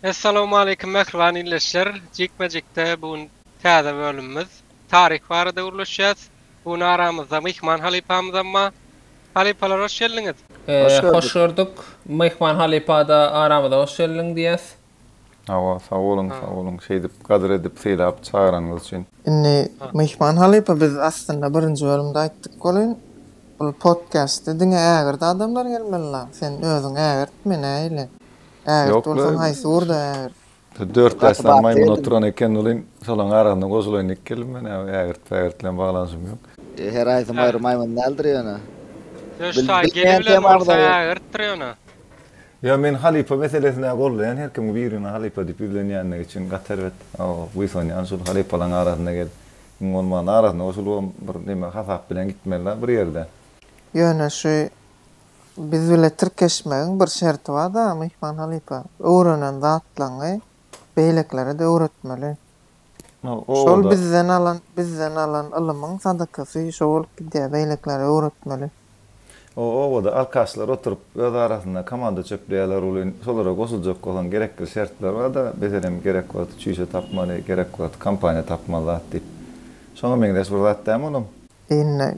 Essalawmaleýkim mähriban ildeşler! Jikme-jikde bu gün täze bölümimiz. Taryh barada gürleşýäs. Bu gün aramyzda myhman halypamyzam bar. Halypalar hoş geldiňiz! Hoş gördük. Hoş gördük. Myhman halypada aramyza hoş geldiň diýýäs. Hawa, sag boluň, sag boluň. Şeýdip gadyr edip sylap çagyranyňyz üçin. Indi myhman halypa biz aslynda birinji bölümde aýtdyk welin, bu podkastda diňe ägirdi adamlar gelmeli la, sen özüň ägirt, men-ä ile. Ägirt bolsaň haýsy ýurda ägirt? Dört daşdan maýmyn oturan eken welin şolaň arasynda goşulaýyn diýip geldim men ägirt pägirt bilen baglanyşym ýok. Her aýsy maýry maýmyn däldir ýöne. Söz taý geli bilen bolsa ägirtdir ýöne. Ýa men halypa meselesine gollaýan her kim birine halypa diýip ýüzlenýänligi üçin gaty erbet buýsanýan şul halypalaň arasynda gelip iň bolmanda arasynda goşulybam bir neme hasap bilen gitmeli bir ýerde. Ýöne şu Biz bile tirkeşmegiň bir şerti barda myhman halypa, öwrenen zatlaňy beýlekilere-de öwretmeli. Şol bizden alan, bizden alan ylymyň sadakasy şo bolup gidýär, beýlekilere öwretmeli. O obada alkaşlar oturyp, öz arasynda komanda çöpleýärler welin, şolara goşuljak bolan gerekli şertler barda, meselem, gerek wagty çüýşe tapmaly, gerek wagty kompaniýa tapmaly zat diýip. Şoňa meňzeş bir zat dämi olam? Indi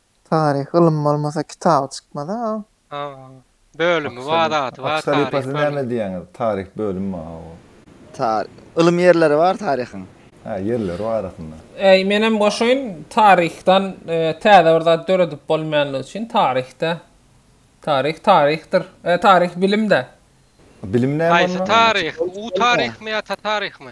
Taryh ylym bolmasa kitaby çykmaz a. Bölümi bar zady bar taryh bölümi. Taryh bölümi bar a. Taryh ylym ýerleri bar taryhyň. Hä ýerleri bar aslynda. Äý menem goşaýyn taryhdan täze bir zat döredip bolmaýanlygy üçin taryhda taryh taryhdyr taryh bilimdä. Bilim näme onda? Haýsy taryh? U taryhmy ýa ta taryhmy?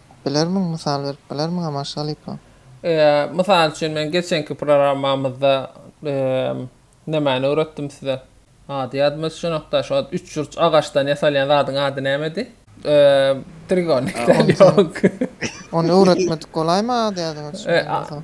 Bilermiň, mysal berip bilermiňem Aşgalypa? Mysal üçin, men geçenki programmamyzda nämäni öwretdim size? Ady ýadyma düşenok-da, şo üçburç agaçdan ýasalýan zadyň ady nämedi? Trigonik däl, ýok. Ony öwretmedik bolaýma, ady ýadyňa düşmän bolsa.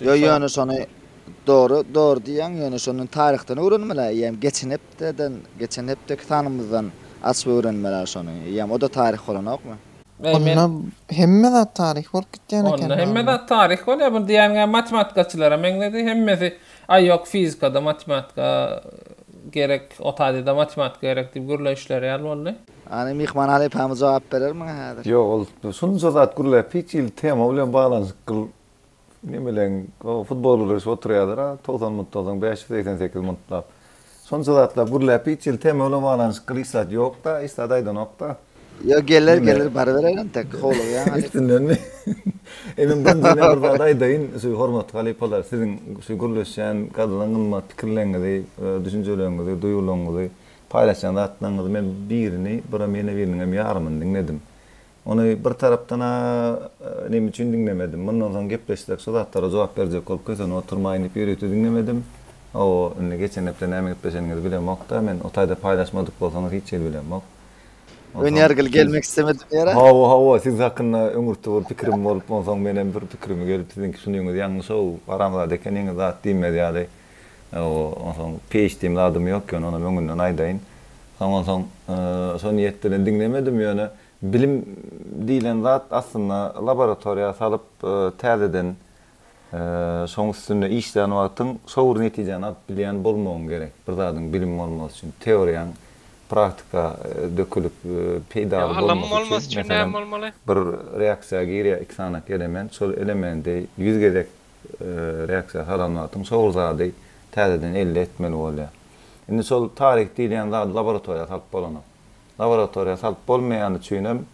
Ýo ýöne şony Dogry dogry diýýäň ýöne şondan taryhdan öwrenmeli eýýäm geçen hepdeden geçen hepdeki sanymyzdan açyp öwrenmeli şony eýýäm oda taryh bolanokmy. Onda hemme zat taryh bolup gitýän eken. Onda hemme zat taryh bolýar bu diýýäniňä matematikaçylara meňzedi hemmesi aý ýok fizikada matematika gerek otadida matematika gerek diýip gürleýişleri ýaly boldy. Hany myhman halypamyz jogap berer muňa häzir. Ýok ol şunça zat gürläp hiç il tema bilen baglanyşykl nemeleň o futbol gürleşip oturýalar a togsan munt togsan bäş ýüz segsen sekiz muntlap şunça zatlap gürläp hiç il tema bilen baglanyşykl hiç zat ýok da hiç zat aýdanok da. Ýok geler geler baryberer entek howlugýaň halypa. Üstündenmi? E men bir jüme bir zat aýdaýyn şu hormatly halypalar siziň şu gürleşýän gadyna gymmat pikirleňňizi düşünjeleriňňizi duýgulaňňyzy paýlaşýan zatlaryňyzy men birini bura mena biriniňem ýarymyny diňledim. Ony bir tarapdan-a neme üçin diňlemedim. Mundan soň gepleşsek şu zatlara jogap berjek bolup kösenip oturmaýyn diýip ýörite diňlemedim. Hawa, indi geçen hepde näme gepleşeniňizi bilemok-da, men o taýda paýlaşmadyk bolsaňyz hiç hili bilemok. Önýär gyl gelmek islemedim ýere. Hawa, hawa, siz hakynda öňürti bir pikirim bolup, onsoň menem bir pikirim gelip siziňki şunyňyz ýalňyş-ow, haramzada ekeniňiz zat diýmez ýaly. Onsoň peýç diýen zadym ýok ýöne onam öňünden aýdaýyn. Soň onsoň şo niýet bilen diňlemedim ýöne bilim diýlen zat aslynda laboratoriýa salyp täzeden şoň üstünde işlän wagtyň şo bir netijäni alyp bilýän bolmagyň gerek. Bir zadyň bilim bolmasy üçin teoriýaň praktika dökülip peýdaly bolmasy üçin meselem bir reaksiýa girýär iki sany element şol elementi ýüz gezek Reaksiýa salamatyň şor zady täzeden elde etmeli bolýar. Indi şol tarik diýilýän zady laboratoriýa salyp bolanok. Laboratoriýa salyp bolmaýany üçinem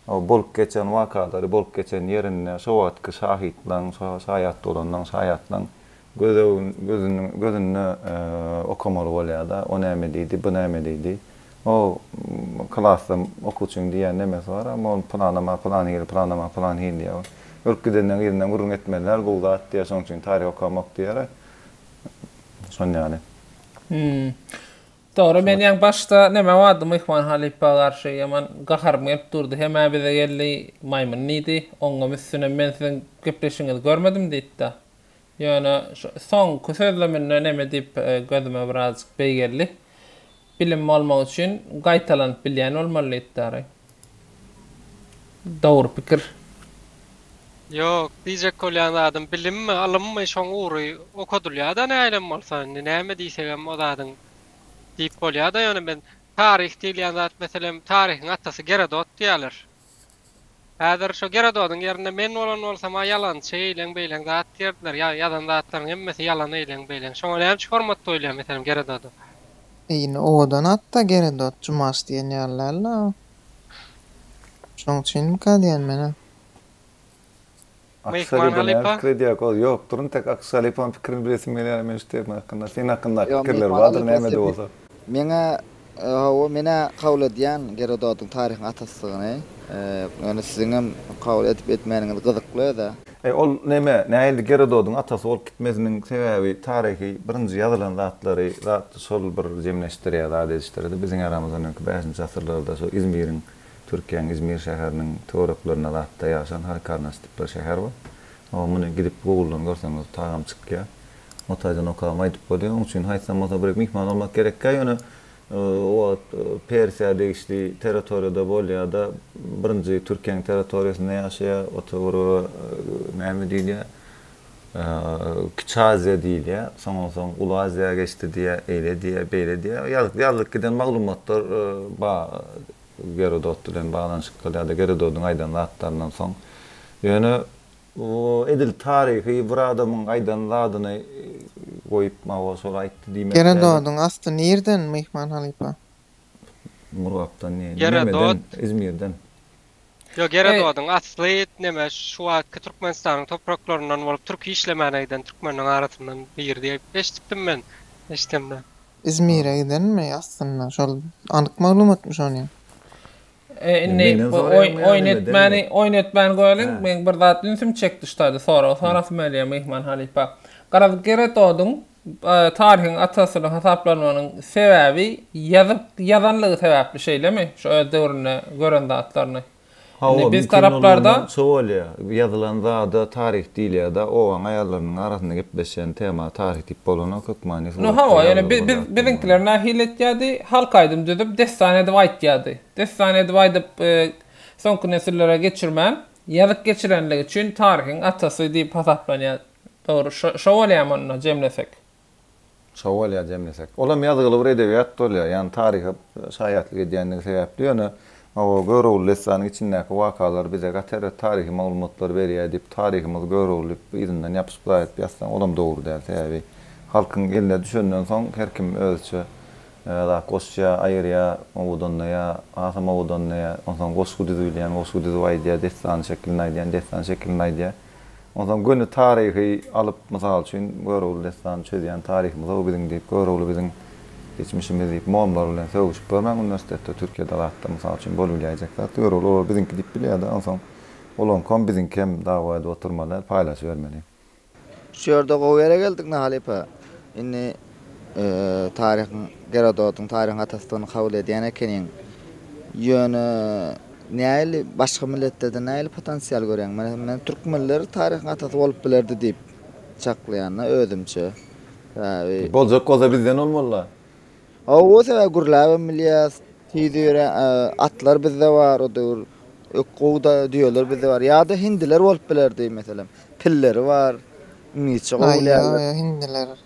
o bolup geçen wakalary bolup geçen ýerinde şo wagtky şahytlaň, şo şaýat bolanlaň, şaýatlaň gözüne gözünde okamaly bolýar-da, o näme diýdi, bu näme diýdi. O klasda okuwçyň diýýän nemesi bar, amma ol pylanyma pylan hili, pylanyma pylan hili diýýär. Ol ölüp gidenden yzyndan gürrüň etmeliler, gowy zat diýýär, şonuň üçin taryh okamok diýýär. Şon ýaly. Hum. Dogry, men ýaňy başda näme bardy, Myhman halypa garşy ýaman gaharym gelip durdy. Hem-ä bize geldi, maýmyn diýdi. Oňňam üstünem men siziň gepleşigiňizi görmedim diýdi-de. Ýöne şu soňky sözleminde neme diýip gözüme birazjyk beý geldi. Bilim bolmak üçin gaýtalanyp bilýän bolmaly diýipdary. Dogry pikir. Ýok, diýjek bolýan zadym bilimmi, ylymmy şoň ugry okadylýa-da nähilem bolsa, indi näme diýsegem o zadyň diýip bolýa-da, ýöne men taryh diýilýän zat meselem, taryhyň atasy Gerodot diýýäler. Häzir şo Gerododyň ýerinde men bolan bolsam-a ýalançy eýleň-beýleň zat diýerdiler, ýa ýazan zatlaryň hemmesi ýalan eýleň-beýleň. Şoňa näme üçin hormat goýulýar meselem Gerododa? E indi owadan atda Gerodot, Jumaş diýen ýaly däl-la o. Şoň üçinmika diýen menem. Meýik Margaly pa. Pikir edýär goz ýok durun tek Akşaly paň pikirini bilesim gelýär men şu tema hakynda seň hakyndaky pikirler bardyr näme-de bolsa. Meňä hawa menä kabul edýän Gerododyň taryhyň atasydygyny ýöne siziňem kabul edip etmäniňiz gyzykly özä. Eý ol neme näildi Gerododyň atasy bolup gitmesiniň sebäbi taryhy birinji ýazylan zatlary zat şol bir jemleşdirýär zat edişdirdi biziň eramyzdan öňki bäşinji asyrlarda şu Izmiriň Türkiýäň Izmir şäheriniň töwereklerinde zatda ýaşan halykarnas tip bir şäher bar. Oňa muny gidip Google-dan görseňiz tagam çykýar. O taýdan okagam aýdyp bolýar. Oň üçin haýsam bolsa bir myhman bolmak gerekkä ýöne o wagt Persiýa degişli territoriýada bolýarda birinji Türkiýäň territoriýasynda ýaşaýar o töwerege näme diýilýär Kiçi Aziýa diýilýär. Şondan soň Uly Aziýa geçdi diýýär, eýle diýýär, beýle diýýär. Ýazyp, ýazylyp giden maglumatlar bar Gerodot bilen baglanyşykly ýa-da Gerododyň aýdan zatlaryndan soň. Ýöne bu edil taryhy bir adamyň aýdan zadyny goýup, mawa, şol aýtdy diýmek däl. Gerododyň asly nirden, myhman halypa? Murgapdan ne? Nämeden? Izmirden. Ýok, Gerododyň asly neme, şu wagtky Türkmenistanyň topraklaryndan bolup, türki işlemäne giden türkmenleriň arasyndan biri diýip eşidipdim men eşdemde. Izmire gidenmi aslynda? Şol anyk maglumatmy şony? E, indi bu oýun etmäni, oýun etmäni goýalyň. Meň bir zat ünsümi çekdi şu taýda sorag sorasym gelýär myhman halypa. Garaz, Gerododyň Taryhyň atasydygyny hasaplanmagynyň sebäbi ýazyp ýazanlygy sebäpli şeýlemi? Şu öz döwründe gören zatlaryny. Hawa, biz taraplarda şo bolýa. Ýazylan zada taryh diýilýä-da, obaň aýallarynyň arasynda gepleşýän tema taryh diýip bolanok, hökmany suratda. No hawa, ýöne biziňkiler nähili etýärdi? Halk aýdym düzüp, dessan edip aýtýardy. Dessan edip aýdyp, soňky nesillere geçirmän, ýazyp geçirenligi üçin taryhyň atasy diýip hasaplanýar. Dogry, şo bolýamy onda jemlesek? Şo bolýar jemlesek. Olam ýazgyly bir edebiýat bolýar, ýagny taryha şaýatlyk edýändigi sebäpli, ýöne o Görogly dessanyň içindäki wakalar bize gaty erbet taryhy maglumatlary berýär diýip, taryhymyzy Görogly diýip yzyndan ýapyşyp zaýat ýazsaň, olam dogry däl. Sebäbi halkyň eline düşenden soň her kim özüçe zat goşýar, aýyrýar, owadanlaýar, hasam owadanlaýar, onsoň goşgy düzübilýän goşgy düzüp aýdýar, dessan şeklinde aýdýan dessan şeklinde aýdýar. Onsoň göni taryhy alyp, mysal üçin, Görogly dessany çözýän taryhymyz-ow biziň diýip, Görogly biziň geçmişimiz diýip, mollalar bilen sögüşip görmäň uniwersitetde, Türkiýede, Yrakda, mysal üçin, bolubilýäýjek zat, Görogly olary biziňki diýip bilýär-de, onsoň olaňkam, biziňkem dawa edip oturmaly, paýlaşybermeli. Şu ýerde gowy ýere geldik Nahalypa. Indi Taryhyň Gerododyň taryhyň atasydygyny kabul edýän ekeniň. Ýöne nähili başga milletlerden nähili potensial görýäň? Meselem, men türkmenler taryhyň atasy bolup bilerdi diýip çaklaýan-da özümçe. Sebäbi. Boljak bolsa bizden bolmaly-da. Hawa, sebäbi gürläbem bilýäs. Tiz öýrän atlar bizde bar o döwür. Ökgowda düýeler bizde bar. Ýa-da hindiler bolup bilerdi meselem. Pilleri bar. Iňlisçe gowy bilýärler. Aý, ýa-da hindiler.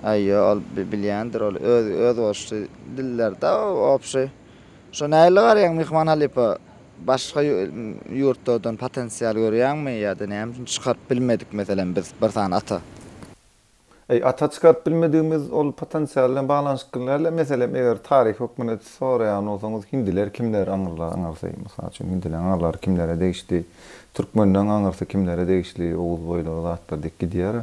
Aý ýo ol bilýändir ol öz özboluşly diller da obşy şo nähili garaýaň myhman halypa başga ýurtlardan potensial görýäňmi ýada näme üçin çykaryp bilmedik meselem biz bir sany ata. Eý ata çykaryp bilmedigimiz ol potensial bilen baglanyşykly dälä meselem eger taryhy hökmünde soraýan bolsaňyz hindiler kimler aňyrlar aňyrsy mysal üçin hindileň aňyrlary kimlere degişli türkmenleň aňyrsy kimlere degişli oguz boýlary zatlar diýip gidýär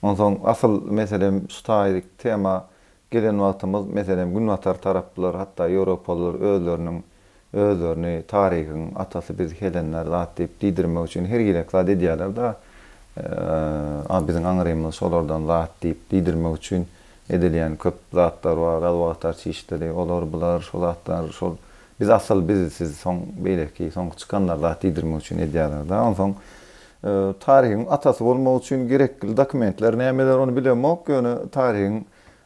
Onsoň asyl meselem şu taýyk tema gelen wagtymyz meselem günbatar taraplylar hatda ýewropalylar özleriniň özlerini taryhyň atasy biz helenler zat diýip diýdirmek üçin her girek zat edýäler da a biziň aňrymyz şolardan zat diýip diýdirmek üçin edilýän köp zatlar bar adwokatar çişleri olar bular şo zatlar şol biz asyl biz siz soň beýleki soňky çykanlar zat diýdirmek üçin edýäler da onsoň Tarygyň atasy bolmak üçin gerekli dokumentler nämeler ony bilemok ýöne tarygyň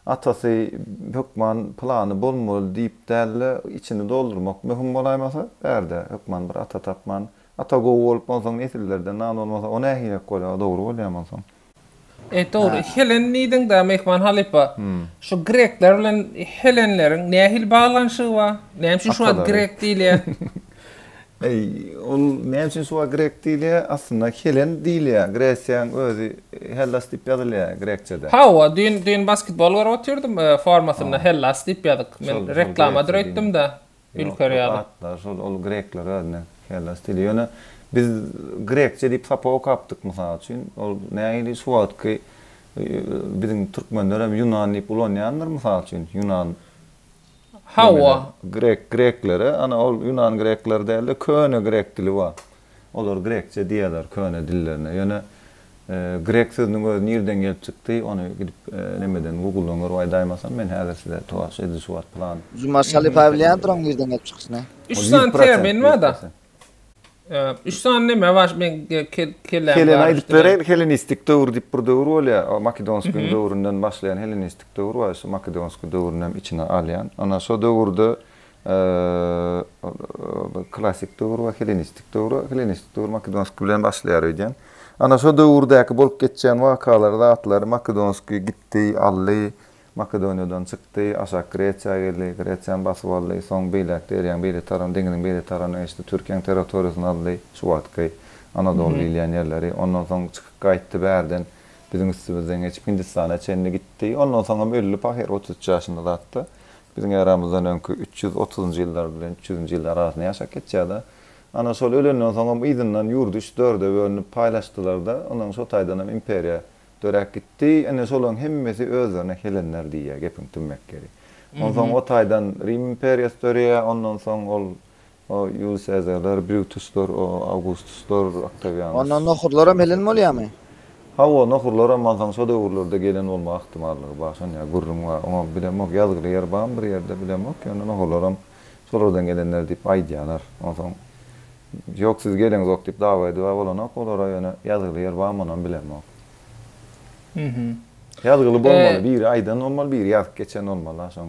atasy hökman pylany bolmaly diýip dälde içini doldurmak möhüm bolaýmasa bärde hökman bir ata tapman ata gowy bolup onsoň nesillerden nan bolmasa o nähilek bolýar o dogry bolýamy onsoň. E, dogry. Helen diýdiň-dä, myhman halypa. Şu grekler bilen helenleriň nähili baglanyşygy bar? Näme üçin şu wagt grek diýilýär? Eý, ol näme üçin şu wagt grek diýilýär? Aslynda helen diýilýär. Gresiýaň özi Hellas diýip ýazylýar grekçede. Hawa, düýn düýn basketbol görüp otyrdym, formasynda Hellas diýip ýazyk. Men reklamadyr öýtdüm-dä. Ýokdur, atlar şol, ol grekler özüne Hellas dili. Ýöne biz grekçe diýip sapak okapdyk mysal üçin. Ol nähili şu wagtky biziň türkmenlerem ýunan diýip ulanýandyr mysal üçin, ýunan. Hawa. Grek, greklere, ana ol ýunan grekler däl-de köne grek dili bar. Olar grekçe diýýärler köne dillerine. Ýöne grek sözüniň özi nirden gelip çykdy, ony gidip nemeden guguldan görüp aýdaýmasam, men häzir size towaş edil şu wagt plan. Juma Şalypaýew bilýändir oň nirden gelip çykyşyny. Üç sany termin bar-da. Üç sany neme bar, meň keleäm garyşdy. Keleni aýdyp bereýin, helenistik döwür diýip bir döwür bolýar. O makedonskiň döwründen başlaýan helenistik döwür bar, şu makedonskiň döwrüni hem içine alýan. Ana şo döwürde Klassyk döwür we hellenistik döwür. Hellenistik döwür makedonskiý bilen başlaýar öýdýän. Ana şo döwürdäki bolup geçýän wakalary, zatlary, makedonskiý gitdi, aldy, Makedoniýadan çykdy, aşak Gresiýa geldi, Gresiýany basyp aldy, soň beýläk derýaň beýle tarapyna, deňiziň beýle tarapyna geçdi, Türkiýäň territoriýasyny aldy, şu wagtky Anadoly diýilýän ýerleri. Ondan soň çykyp gaýtdy bärden, biziň üstümizden geçip Hindistana çenli gitdi. Ondan soň hem öldi pahyr otuz üç ýaşynda zat-da. Biziň eramyzdan öňki üç ýüz otuzynjy ýyllar bilen üç ýüzünji ýyl arasynda ýaşap geçýär-de. Ana, şol ölenden soňam yzyndan ýurdy üç, dörde bölünip paýlaşdylar-da, ondan şo taýdanam imperiýa döräp gitdi. Ine, şolaryň hemmesi özlerine helenler diýýär, gepiň tümmek ýeri. Onsoň o taýdan Rim imperiýasy döreýär, ondan soň ol O, Ýulius Sezarlar, Brutuslar, o, Awgustuslar, Oktawianus. Ondan nohurlaram helen bolýarmy? Hawa, nohurlaram mansaň şo döwürlerde gelen bolma ahtimallygy bar, şonýa gürrüň bar. Oňa bilemok, ýazgyly ýer barmy bir ýerde, bilemok, ýöne nohurlaram şolardan gelenler diýip aýdýarlar. Onsoň, ýok siz geleňzok diýip dawa-ediwa bolanok olara, ýöne ýazgyly ýer barmy onam bilemok. Ýazgyly bolmaly, biri aýdan bolmaly, biri ýazyp geçen bolmaly-a şoň.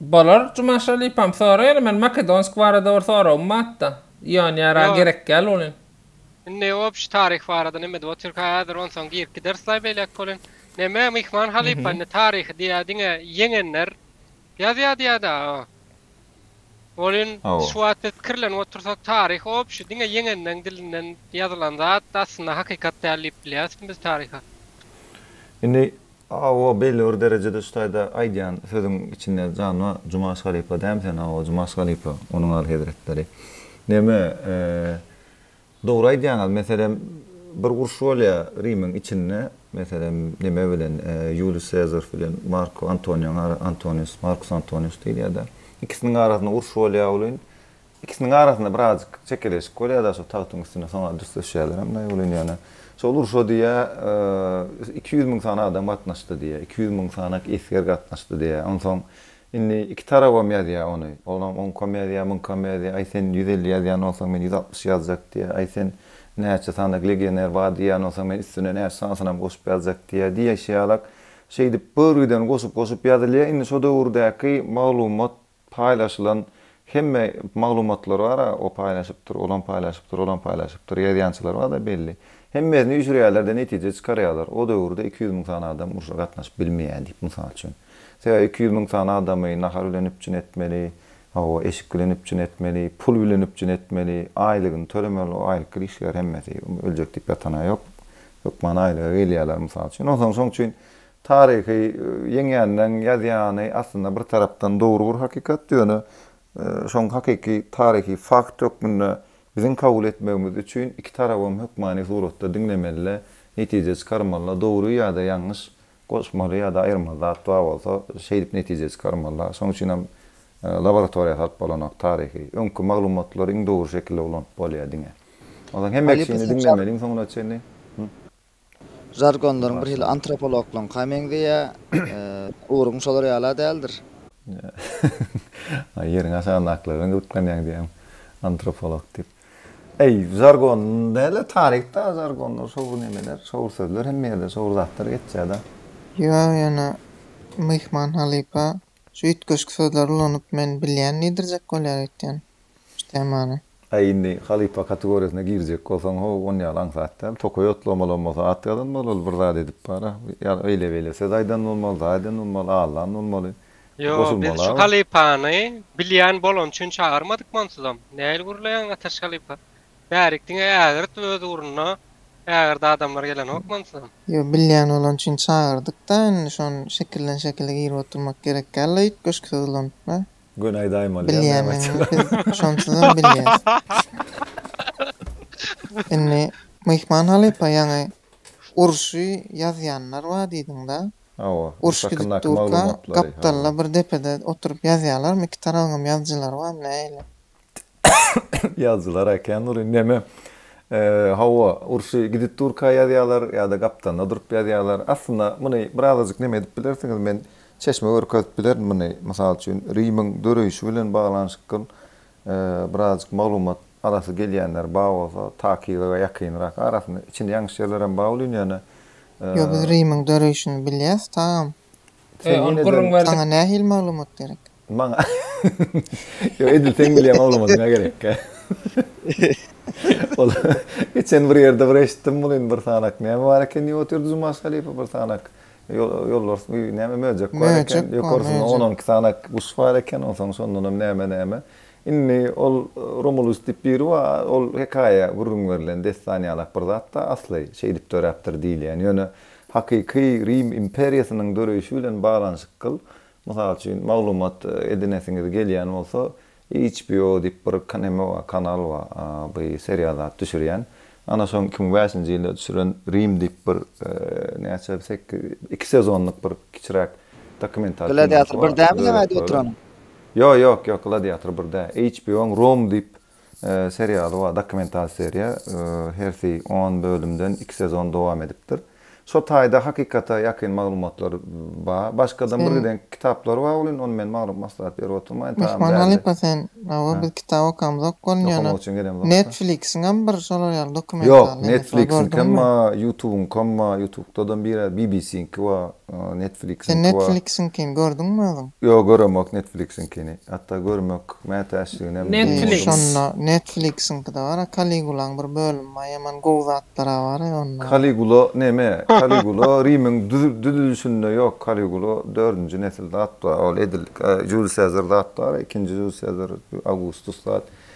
Bolar Jumaş halypam soraýaly men Makedonsk barada bir soragym batda. Ýonýa ra gerek däl bolin. Indi obşi taryh barada nemedi o türk häzir onsoň girip giderslaý beýläk bolin. Neme myhman halypa indi taryhy diýä diňe ýeňenler ýazýa diýäda o. Bolin Hawa. şu wagt biz pikirlenip otursak taryh obşi diňe ýeňenleň dilinden ýazylan zat aslynda hakykat däl diýip bilýärismi biz taryha. Indi Hawa belli bir derejede şu taýda aýdýan sözüň içinde jan bar Jumaş halypa dämi sen Hawa Jumaş halypa onuň alyhezretleri neme Dogry aýdýaňyz meselem bir uruş bolýa Rimiň içinde meselem nime bilen Ýuliý Sezar bilen Mark Antoniýaň ara Antonius Markus Antonius diýilýada ikisiniň arasynda uruş bolýa welin ikisiniň arasynda birazjyk çekeleşik bolýada şol tagtyň üstünde soňra dürsleşýälerem daýy welin ýöne şol urşa diýýä iki ýüz müň sany adam gatnaşdy diýýä iki ýüz müň sanak esger gatnaşdy diýýä onsoň Indi iki tarabam ýazýar ony. Olam oň komediýa, muň komediýa, aý sen ýüz elli ýazýan bolsaň men ýüz altmyş ýazjak diýýär, aý sen näçe sanadyk legioner bar diýýän bolsaň men üstüne näçe sanysynam goşup ýazjak diýýär diýşi ýalak şeýdip börgüden goşup-goşup ýazylýar. Indi şo döwürdäki maglumat paýlaşylan Hemme maglumatlar bar-a, o paýlaşypdyr, olam paýlaşypdyr, olam paýlaşypdyr, ýazýançylar bar-da belli. Hemmesini üýşürýärler-de netije çykarýarlar, o döwürde iki ýüz müň sany adam urşa gatnaşyp bilmeýär diýip, mysal üçin. Sebäbi iki ýüz müň sany adamy nahar bilen üpjün etmeli, hawa, eşik bilen üpjün etmeli, pul bilen üpjün etmeli, aýlygyny tölemeli, o aýlyk girişler hemmesi öljek diýip ýatan-a ýok, hökman aýlyga gelýärler, mysal üçin. Onsoň şoň üçin Taryhy ýeňýänleň ýazýany aslynda bir tarapdan dogry bir hakykat, ýöne şoň hakyky taryhy fakt hökmünde biziň kabul etmegimiz üçin iki tarabam hökmany suratda diňlemeli-de, netije çykarmaly-da, dogry ýa-da ýalňyş, goşmaly ýa-da aýyrmaly zat bar bolsa, şeýdip netije çykarmaly-da. Şoň üçinem laboratoriýa salyp bolanok taryhy. Öňki maglumatlary iň dogry şekilde ulanyp bolýar diňe. Onsoň hemme kişini diňlemeli iň soňuna çenli. Žargonlaryň bir hili antropologlaryňka meňzeýär. Ugruň şolar ýala däldir? Ýeriň aşagyndakylardan gyzyklanýaň diýýäň, antropolog diýip. Eý, žargon däl-de, taryh-da žargonlar, şowly nemeler, şowly sözler, hemme ýerde şowly zatlar geçýär-de. Ýa ýene myhman halypa Şu üýtgeşik sözleri ulanyp men bilýän diýdirjek bolýar öýtýän şu temany. Äý indi halypa kategoriýasyna girjek bolsaň how on ýaly aňsat däl. Tokaý otlamalam bolsa at ýazan bol ol bir zat edip bara. Ýa eýle beýle söz aýdan bolmaly, zat eden bolmaly, allan bolmaly. Ýo biz şu halypany bilýän bolany üçin çagyrmadykmy onsuzam. Nähili gürleýäň Ataş halypa. Bärik diňe ägirt öz ugruna ägirdi adamlar gelenok mansam. Ýo bilýän bolan üçin çagyrdykda indi şon şekilden şekile girip oturmak gerek däl la ýüp göşki syzylanyp la. Göni aýdaýmaly ýa näme aýtsaň aýt. Bilýänini biz şonsuzam bilýäs. Indi Myhman halypa ýaňy urşy ýazýanlar bar diýdiňda. Hawa. Uruş gidip durka gapdalda bir depede oturyp ýazýalarmy iki tarabyňam ýazyjylary bar nähili. Ýazyjylar äkän dur indi neme. Hawa, urşy gidip durka ýazýarlar ýa-da gapdalynda durup ýazýarlar. Aslynda muny birazajyk neme edip bilersiňiz, men çeşme görkezip bilerin muny. Mysal üçin, Rimiň döreýşi bilen baglanyşykl birazajyk maglumat alasy gelýänler bar bolsa, takygyga ýakynrak, arasynda içini ýaňyş ýerlerem bar welin ýöne. Ýok, biz Rimiň döreýşini bilýäs, tagam. Saňa nähili maglumat gerek? Maňa. Ýok, edil seň bilýän ogluňa diňe gerekkä. Ol geçen bir ýerde bir eşitdim muny indi bir sanak. Näme bar eken diýip otyrdy Jumaş halypa bir sanak. Ýolbars bir näme möjek bar eken. Ýokarsynda on-on iki sanak guş bar eken. Onsoň şondanam näme-näme. Indi ol Romulus diýip biri bar. Ol hekaýa gürrüň berlen dessan ýalak bir zat-da asly şeýdip döräpdir diýilýän. Ýöne hakyky Rim imperiýasynyň döreýşi bilen baglanyşykgyl Mysal üçin, maglumat edinesiňiz gelýän bolsa, HBO diýip bir kaneme bar, kanal bar, bi serial zat düşürýän. Ana şoň iki müň bäşinji ýylda düşüren Rim diýip bir näçe seki iki sezonlyk bir kiçiräk dokumental kinosu bar. Gladiator bir dämi ýa-da oturan? Ýo, ýok, ýok, Gladiator bir däl. HBO-nyň Rom diýip Serial wa dokumental seriýa hersi on bölümden iki sezon dowam edipdir. Şo taýda hakykata ýakyn maglumatlar ba. Başgadam bir gideňki kitaplary ba welin ony men maglumat maslahat berip oturmaýyn. Myhman halypa sen hawa biz kitap okamzok welin ýöne Netflixiňem bir şolar ýaly dokumental Ýok Netflixiňkem ba Ýutubyňkam ba Ýutubda da bir bbc-iňki ba. Netflixiňki bar. Sen Netflixiňkini gördüňmi özüň? Ýok göremok Netflixiňkini. Hatda görmek mätäçliginem duýmadym. Şonda Netflixiňkide bara Kaligulaň bir bölümi bar ýaman gowy zatlara bar onda. Kaligula neme? Kaligula Rimiň düzülişinde ýok Kaligula dördünji nesil zat bar ol edil Juliý Sezar zat bar ikinji Juliý Sezar Awgustus zat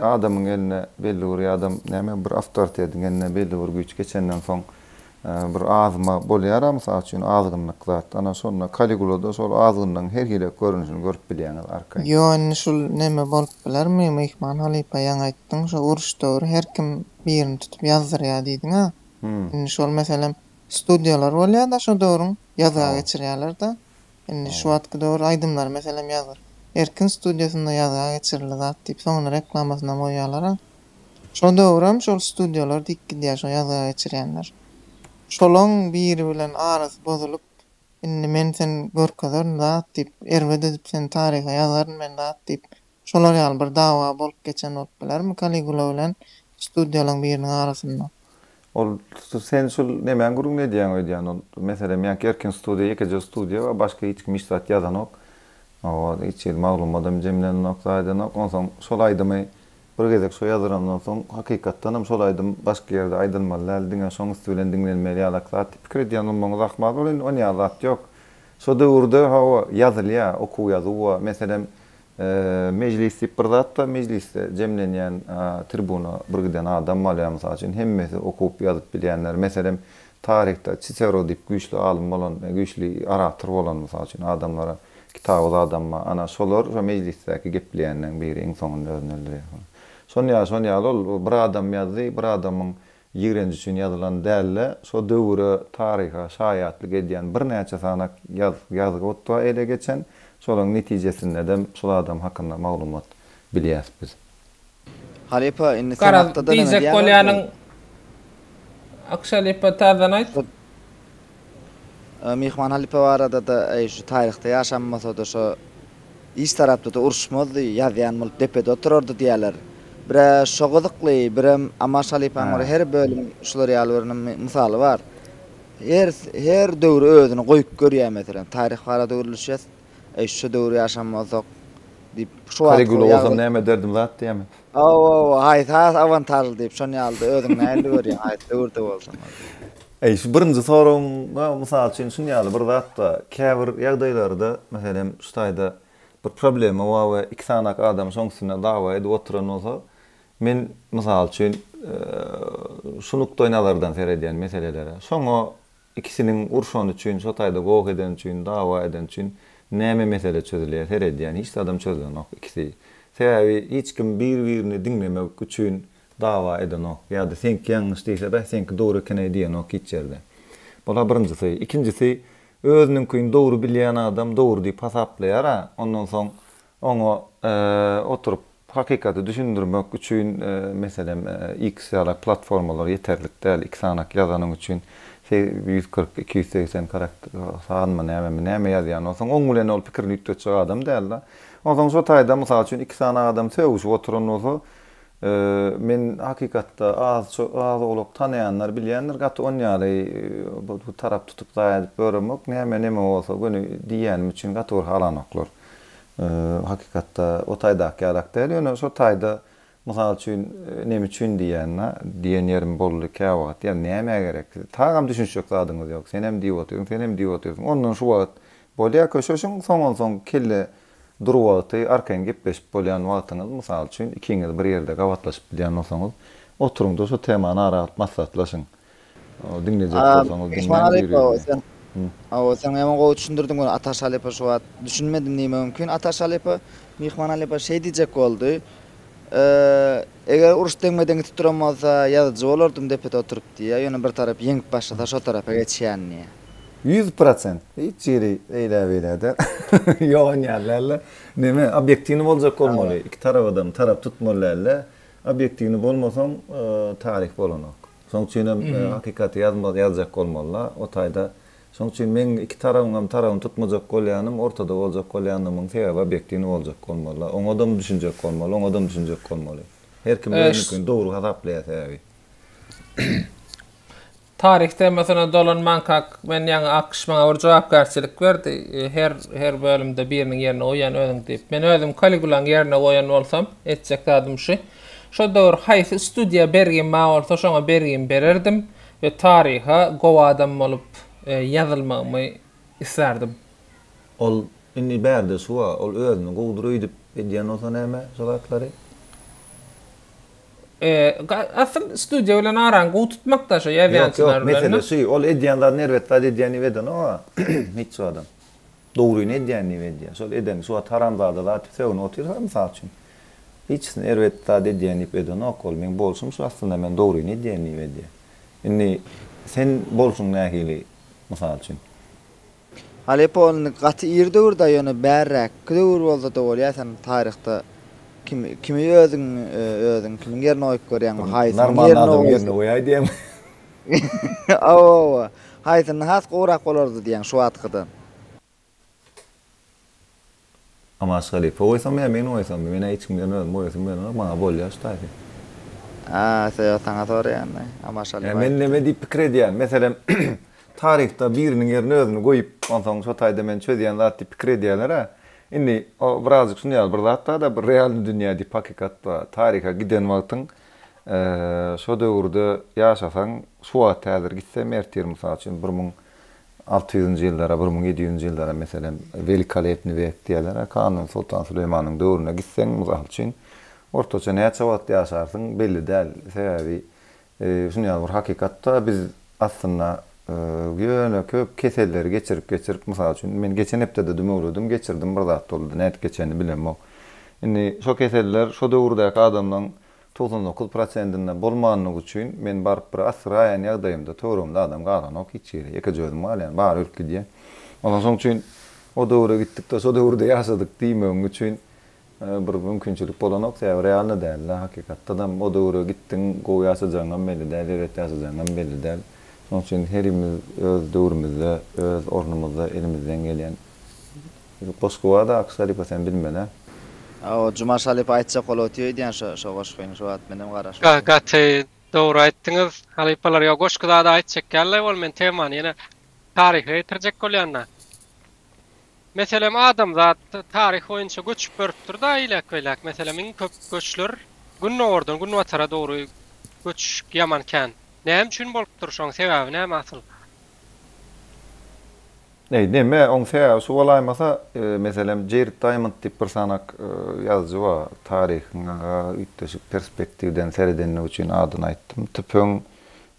Adamyň eline belli bir ýa-da näme bir awtoritetiň eline belli bir güýç geçenden soň bir azma bolýar-a, mysal üçin, azgynlyk zat. Ana, şonda Kaligulada şol azgynlygyň her hili görnüşini görüp bilýäňiz, arkaýyn. Ýok, indi şul neme bolup bilermi, myhman halypa, ýaňy aýtdyň, şo uruş döwri her kim birini tutup ýazdyrýar diýdiň-ä. Indi şol, meselem, studiýalar bolýar-da şo döwrüň, ýazga geçirýärler-de. Indi şu wagtky döwür aýdymlary meselem ýazgyr. Erkin studiýasynda ýazga geçirildi zat diýip soňuna reklamasynam goýýalar-a. Şo döwürem şol studiýalar diýip gidýär şo ýazga geçirýänler. Şolaň biri bilen arasy bozulyp indi men sen görkezerin zat diýip erbet edip seni taryha ýazaryn men zat diýip Şolar ýaly bir dawa bolup geçen bolup bilermi Kaligula bilen studiýalaň biriniň arasynda? Ol sen şul nemäň gürrüňini edýäň öýdýän ol meselem ýaňky Erkin studiýa ýekeje studiýa bar başga hiç kim hiç zat ýazanok owaz hiç hili maglumadam jemlenenok zaýadanok onsoň şol aýdymy bir gezek şo ýazylandan soň hakykatdanam şol aýdym başga ýerde aýdylmaly däl diňe şoň üsti bilen diňlenmeli ýalaky zat diýip pikir edýän bolmagyňyz ahmal ol indi onýaly zat ýok şo döwürde hawa ýazylýa okuw ýazuw bar meselem Mejlis diýip bir zat-da, mejlisde jemlenýän, tribuna bir giden adam bolýar, mysal üçin, hemmesi okup-ýazyp bilýänler, meselem, taryhda Çisero diýip güýçli alym bolan, güýçli orator bolan, mysal üçin, adamlara kitaby zadam bar, ana, şolar şo mejlisdäki gepleýänleriň biri iň soňunda özüni öldürýär. Şon ýaly, şon ýaly ol bir adam ýazdy, bir adamyň Ýigrenç üçin ýazylan däl-de, şo döwüre, taryha şaýatlyk edýän birnäçe sanak ýazgybutga ele geçen, şolaryň netijesindedem şol adam hakynda maglumat bilýäs biz. Halypa, indi sen Garaz, hakda-da näme diýjek diýýäňokmy? bolýanyň, Akşalypa, täzeden aýt. Myhman halypa barada-da, eý, şu taryhda ýaşanmasa-da, şo iç tarapda-da uruşmazdy, ýazýan bolup depede oturardy diýýärler. Bir-ä şo gyzykly, birem Amaş halypanyň bir her bölüm şular ýaly bir mysaly bar. Her, her döwür özüni goýup görýär. Meselem, taryh barada gürleşýäs, eý, şo döwür ýaşan bolsak diýip, şu wagtky ýagdaý. Kaligula bolsam näme ederdim zat diýýärmi? Hawa-wa, haýsy has awantažly diýip, şon ýaly-da özüň nähilli görýäň, haýsy döwürde bolsa bolýa. Eý, şu birinji soragyňa, mysal üçin, şun ýaly bir zat bar. Käbir ýagdaýlarda, meselem, şu taýda bir problema bar we iki sanak adam şoň üstünde dawa edip oturan bolsa, men, mysal üçin, şu nukdaýnazardan seredýän meselelere. Şoňa Ikisiniň urşany üçin, şo taýda goh edeni üçin, dawa edeni üçin näme mesele çözülýär, seredýän hiç zadam çözülenok ikisi. Sebäbi hiç kim bir-birini diňlemek üçin dawa edenok ýa-da seňki ýalňyş diýse beh seňki dogry ekeneý diýenok hiç ýerde. Bula birinjisi. Ikinjisi özüniňkini dogry bilýän adam dogry diýip hasaplaýara ondan soň Oňa oturyp hakykaty düşündirmek üçin meselem X ýaly platformalar ýeterlik däl, iki sanak ýazanyň üçin ýüz kyrk, iki ýüz segsen karakter sanmy nämemi näme ýazýan bolsaň oň bilen ol pikirini üýtgetjek adam dälda. Onsoň şo taýda mysal üçin iki sanak adam sögüşip oturan bolsa men hakykatda az az owlak tanaýanlar bilýändir gaty on ýaly bu tarap tutup zaýa edip ýöremok näme neme bolsa göni diýýänim üçin gaty bir halanoklar. Hakykatda o taýdaky ýalak däl, ýöne şo taýda, mysal üçin, neme üçin diýýän-de, diýen ýerim boldy käwagt, ýa nämä gerek, tagam düşünişjek zadyňyz ýok, senem diýip otyrsyň, senem diýip otyrsyň, ondan şu wagt bolýar köşeşiň, soňunsoň kelle dur wagty arkaýyn gepleşip bolýan wagtyňyz, mysal üçin, ikiňiz bir ýerde gabatlaşyp bilýän bolsaňyz, oturyň-da, şo temany ara alyp maslahatlaşyň. Diňlejek bolsaňyz diňläň biri-birine. Hawa, sen ýaman gowy düşündirdiň muny, Ataş halypa şu wagt. Düşünmedim diýme mümkin. Ataş halypa, Myhman halypa şeý diýjek boldy, Eger uruş deňme-deň gidip duran bolsa, ýazyjy bolardym depede oturyp diýýä, ýöne bir tarap ýeňip başlasa şo tarapa geçýän diýýä. Ýüz prosent, hiç ýeri eýlä-beýläde ýogan ýaly dälde. Neme, obýektiwnyý boljak bolmaly, iki tarabadam tarap tutmaly dälde. Obýektiwni bolmasaň, taryh bolanok. Şoň üçin hem hakykaty ýazma, ýazjak bolmaly-la. O taýda, şoň üçin meň iki tarabyň hem tarabyny tutmajak bolýanym, ortada boljak bolýanymyň sebäbi obýektiwni boljak bolmaly-la. Oňadam düşünjek bolmaly, oňadam düşünjek bolmaly. Her kim özüniňkini dogry hasaplaýar sebäbi. Taryh temasyna dolanmanka-k men ýaňy AQŞ maňa bir jogapkärçilik berdi, her her bölümde biriniň ýerine goýýan özüň diýip. Men özüm Kaligulaň ýerine goýan bolsam, etjek zadym şu. Şo döwür haýsy studiýa bergim bar bolsa şoňa bergimi bererdim we taryha gowy adam bolup ýazylmagymy islärdim. Ol indi bärde şu-a, ol özüni gowudyr öýdüp edýän bolsa näme şo zatlary? Eee, asyl studiýa bilen araňy gowy tutmak da şo ýazýan ssenari bilen. Ýok, ýok, mesele şu, ol edýän zadyny erbet zat edýän diýip edenok-a, hiç zadam. Dogryny edýän diýip edýär. Şol eden, şu wagt haramzada zat sögünip otyrys-a, mysal üçin. Hiçsini erbet zat edýän diýip edenok ol. Meň bolşum şu aslynda, men dogryny edýän diýip edýär. Indi sen bolşuň nähili, mysal üçin? Aleppo indi gaty ir döwür da ýöne bärräkki döwür bolsada bolýa sen taryhda kim kimi özüň özüň kimiň ýerine goýup görýäň we haýsynyň ýerine goýsaň Normalny adamyň ýerine goýaý diýäňmi? Hawa hawa haýsyny has gowrak bolardy diýýäň şu wagtkydan. Amaş halypa goýsam ýa men goýsam men-ä hiç kim bilen özüm goýasym gelenok maňa bolýa şu taýpy. A söýag saňa soraýanda Amaş halypa aýdypdy. Men neme diýip pikir edýän meselem taryhda biriniň ýerine özüni goýup onsoň şo taýda men çözýän zat diýip pikir edýäler-ä indi o birazjyk şuny ýaly bir zat bar-da bir realny dünýä diýip hakykat bar taryha giden wagtyň şo döwürde ýaşasaň şu wagt häzir gitseň ertir mysal üçin bir müň Alty ýüzünji ýyllara, bir müň ýedi ýüzünji ýyllara, meselem, Welikolepnyý wek diýerler-ä, Kanun Soltan Süleýmanyň döwrüne gitseň, mysal üçin, ortaça näçe wagt ýaşarsyň, belli däl. Sebäbi şuny ýaly bir hakykat-da, biz aslynda ýöne köp keselleri geçirip-geçirip, mysal üçin, men geçen hepde-de dümewledim, geçirdim, bir zat boldy, nädip geçenini bilemok. Indi şo keseller şo döwürdäki adamlaryň Togsan dokuz prosentinde bolmanlygy üçin men baryp bir assyraýan ýagdaýymda töweregimde adam galanok hiç ýeri ýekeje özüm galýan bary ölüp gidýän. Ondan soň üçin o döwüre gitdikde şo döwürde ýaşadyk diýmegiň üçin bir mümkinçilik bolanok sebäbi realny dälde hakykatdadam o döwüre gitdiň gowy ýaşajagyňam belli däl erbet ýaşajagyňam belli däl. Şoň üçin herimiz öz döwrümizde öz ornumyzda elimizden gelýän Şu goşgy barda Akyş halypa sen bilmene. Hawa Jumaş halypa aýtjak ol oty öýdýän şo şo goşgyny şu wagt menem garaşypdym. Gaty dogry aýtdyňyz halypalar ýa goşgy zada aýtjak ýalylaý ol men temany ýene taryha getirjek bolýanda meselem adamzat taryh boýunça göçüp görüpdir da eýläk beýläk meselem iň köp göçler gündogardan günbatara dogry göçüş ýaman kän näme üçin bolupdyr şoň sebäbi näme asyl. Eý, neme, oň sebäbi şu bolaýmasa, meselem, Jeýrid Daýmond diýip bir sanak ýazyjy bar, taryhyňa üýtgeşik perspektiwden seredenligi üçin adyny aýtdym. Tüpeň,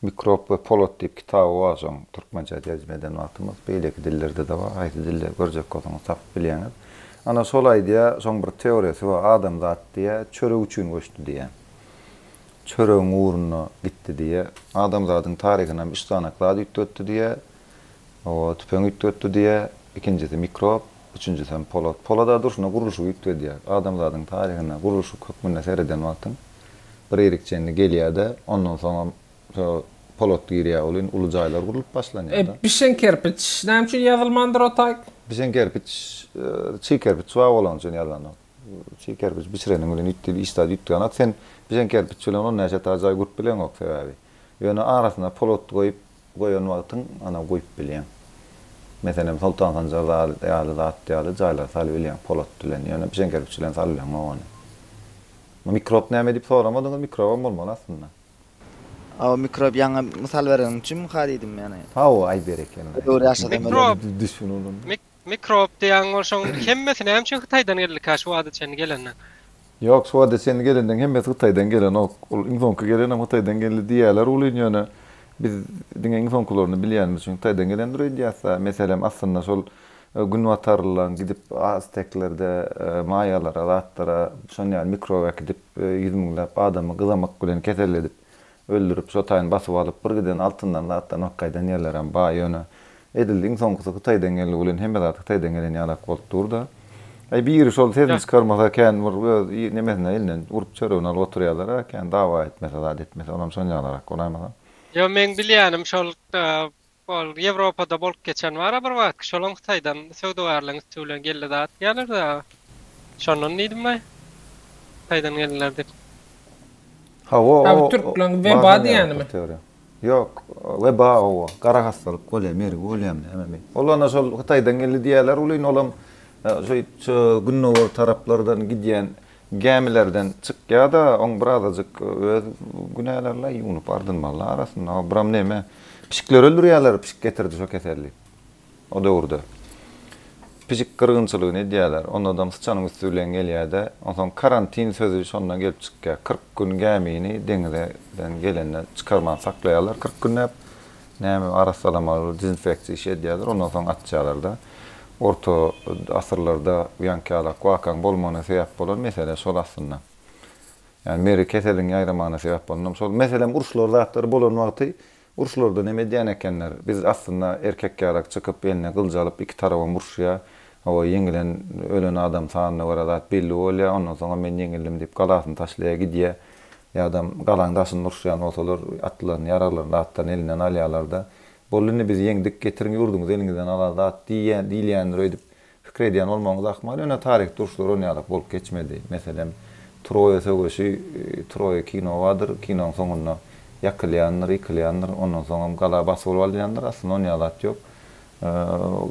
mikrob we polat diýip kitaby bar şoň, türkmençä terjime eden wagtymyz, beýleki dillerde-de bar, haýsy dilde görjek bolsaňyz tapyp bilýäňiz. Ana, şol aýdýar, şoň bir teoriýasy bar, adamzat diýýär, çörek üçin göçdi diýýär. Çöregiň ugrunda gitdi diýýär. Adamzadyň taryhynam üç sanak zat üýtgetdi diýýär, Oba, tüpeň üýtgetdi diýýä, ikinjisi mikrop, üçünjisem polat. Polada durşuna gurluşygy üýtgedýär. Adamzadyň taryhyna gurluşyk hökmünde sereden wagtyň bir irki çenli gelýär-de, ondan soňam şo polat girýär welin uly jaýlar gurlup başlanýar-da. Bişen kerpiç näme üçin ýazylmandyr o taý? Bişen kerpiç, çig kerpiç bar bolany üçin ýazanok. Çig kerpiç bişireniň bilen üýt diýip işdäde üýtgänok. Sen bişen kerpiç bilen on näçe etaý jaý gurup bileňok sebäbi. Ýöne arasyna polat goýup, Goýan wagtyň ana goýup bilýäň. Meselem Soltan Sanjar zady ýaly zat ýaly jaýlara saly bilýäň polat bilen ýöne bijeň kerpiç bilen saly bileňok ony. Bu mikrob näme diýip soramadyňyz mikrobam bolmaly aslynda. Hawa mikrob ýaňy mysal bereniň üçin ha diýdim ýöne. Hawa aý berekella. Mikrob. Mikrob diýýäň bolsaň hemmesi nämeçün hytaýdan geldikä şu wagta çenli gelenden. Ýok şu wagta çenli gelenden hemmesi hytaýdan gelenok. Ol iň soňky gelenem hytaýdan geldi diýýäler welin ýöne biz diňe iň soňkylaryny bilýänimiz üçin hytaýdan gelendir öýdýäsä. Meselem aslynda şol günbatarlylaň gidip azteklerde maýalara zatlara şon ýaly mikrob äkidip ýüz müňläp adamy gyzamak bilen keselledip Öldürip, şo taýyn basyp alyp, bir giden altyndan zatlanok gaýdan ýerlerem ba, ýöne, edil iň soňkusy Hytaýdan gelendigi bilen hemme zat Hytaýdan gelen ýalak bolup dur-da. Aý, biri şol sesini çykarmasa, kän bir öz nemesine elinden urup çörügini alyp oturýarlar-a, kän dawa etmese, zat etmese, olam şonýalarak bolaýmasa. Ýo, meň bilýänim şol Ol Ýewropada bolup geçen bar-a bir wagtky, şolam Hytaýdan söwdagärligiň üsti bilen geldi zat diýýärler-de, şondan diýdim laý, Hytaýdan geldiler diýip. Hawa, o, o, badan ýaly bir teoriýa. Ýok, weba oba, gara hassalyk bolýar, mergi bolýar, hemem bir. Ol ana şol Hytaýdan geldi diýýärler welin, olam şeýtçe gündogar taraplardan gidýän Gämilerden çykýa-da, oň bir azajyk öz günäleri-la ýuwnup ardynmaly-la arasynda. O, buram neme, pişikleri öldürýärler, pişik getirdi şo keselli. O döwürde pişik gyrgynçylygyny edýärler, onadam syçanyň üsti bilen gelýä-de, onsoň karantin sözi şondan gelip çykýa. Kyrk gün gämini deňizeden gelenden çykarman saklaýarlar, kyrk günläp, Näme arassalamaly dezinfeksiýa işi edýärler ondan soň atýarlarda. Orta asyrlarda ýaňkýalak wakaň bolmagyna sebäp bolan mesele şol aslynda. Ýani meri keseliň ýaýramagyna sebäp bolanam şol. Meselem uruşlar zatlary bolan wagty uruşlardan hem edýän ekenler. Biz aslynda erkekýalak çykyp eline gylyç alyp iki tarabam uruşýa. Hawa ýeňilen ölen adam sanyna görä zat belli bolýa ondan soňam men ýeňildim diýip galasyny taşlaýa gidýä. Ýa-da galaň daşynda uruşýan bolsalar, atlaryny, ýaraglaryny da atdan elinden alýarlar-da, Boldy indi biz ýeňdik, getiriň ýurduňyzy eliňizden alar zat diýýän, diýilýändir öýdüp pikir edýän bolmagyňyz ahmal. Ýöne taryhda uruşlar ony ýalak bolup geçmedi. Meselem, Troýa söweşi, Troýa kino bardyr, kinoň soňunda ýakylýandyr, ýykylýandyr, ondan soňam gala basyp alyp alynýandyr, aslynda ony ýalak ýok.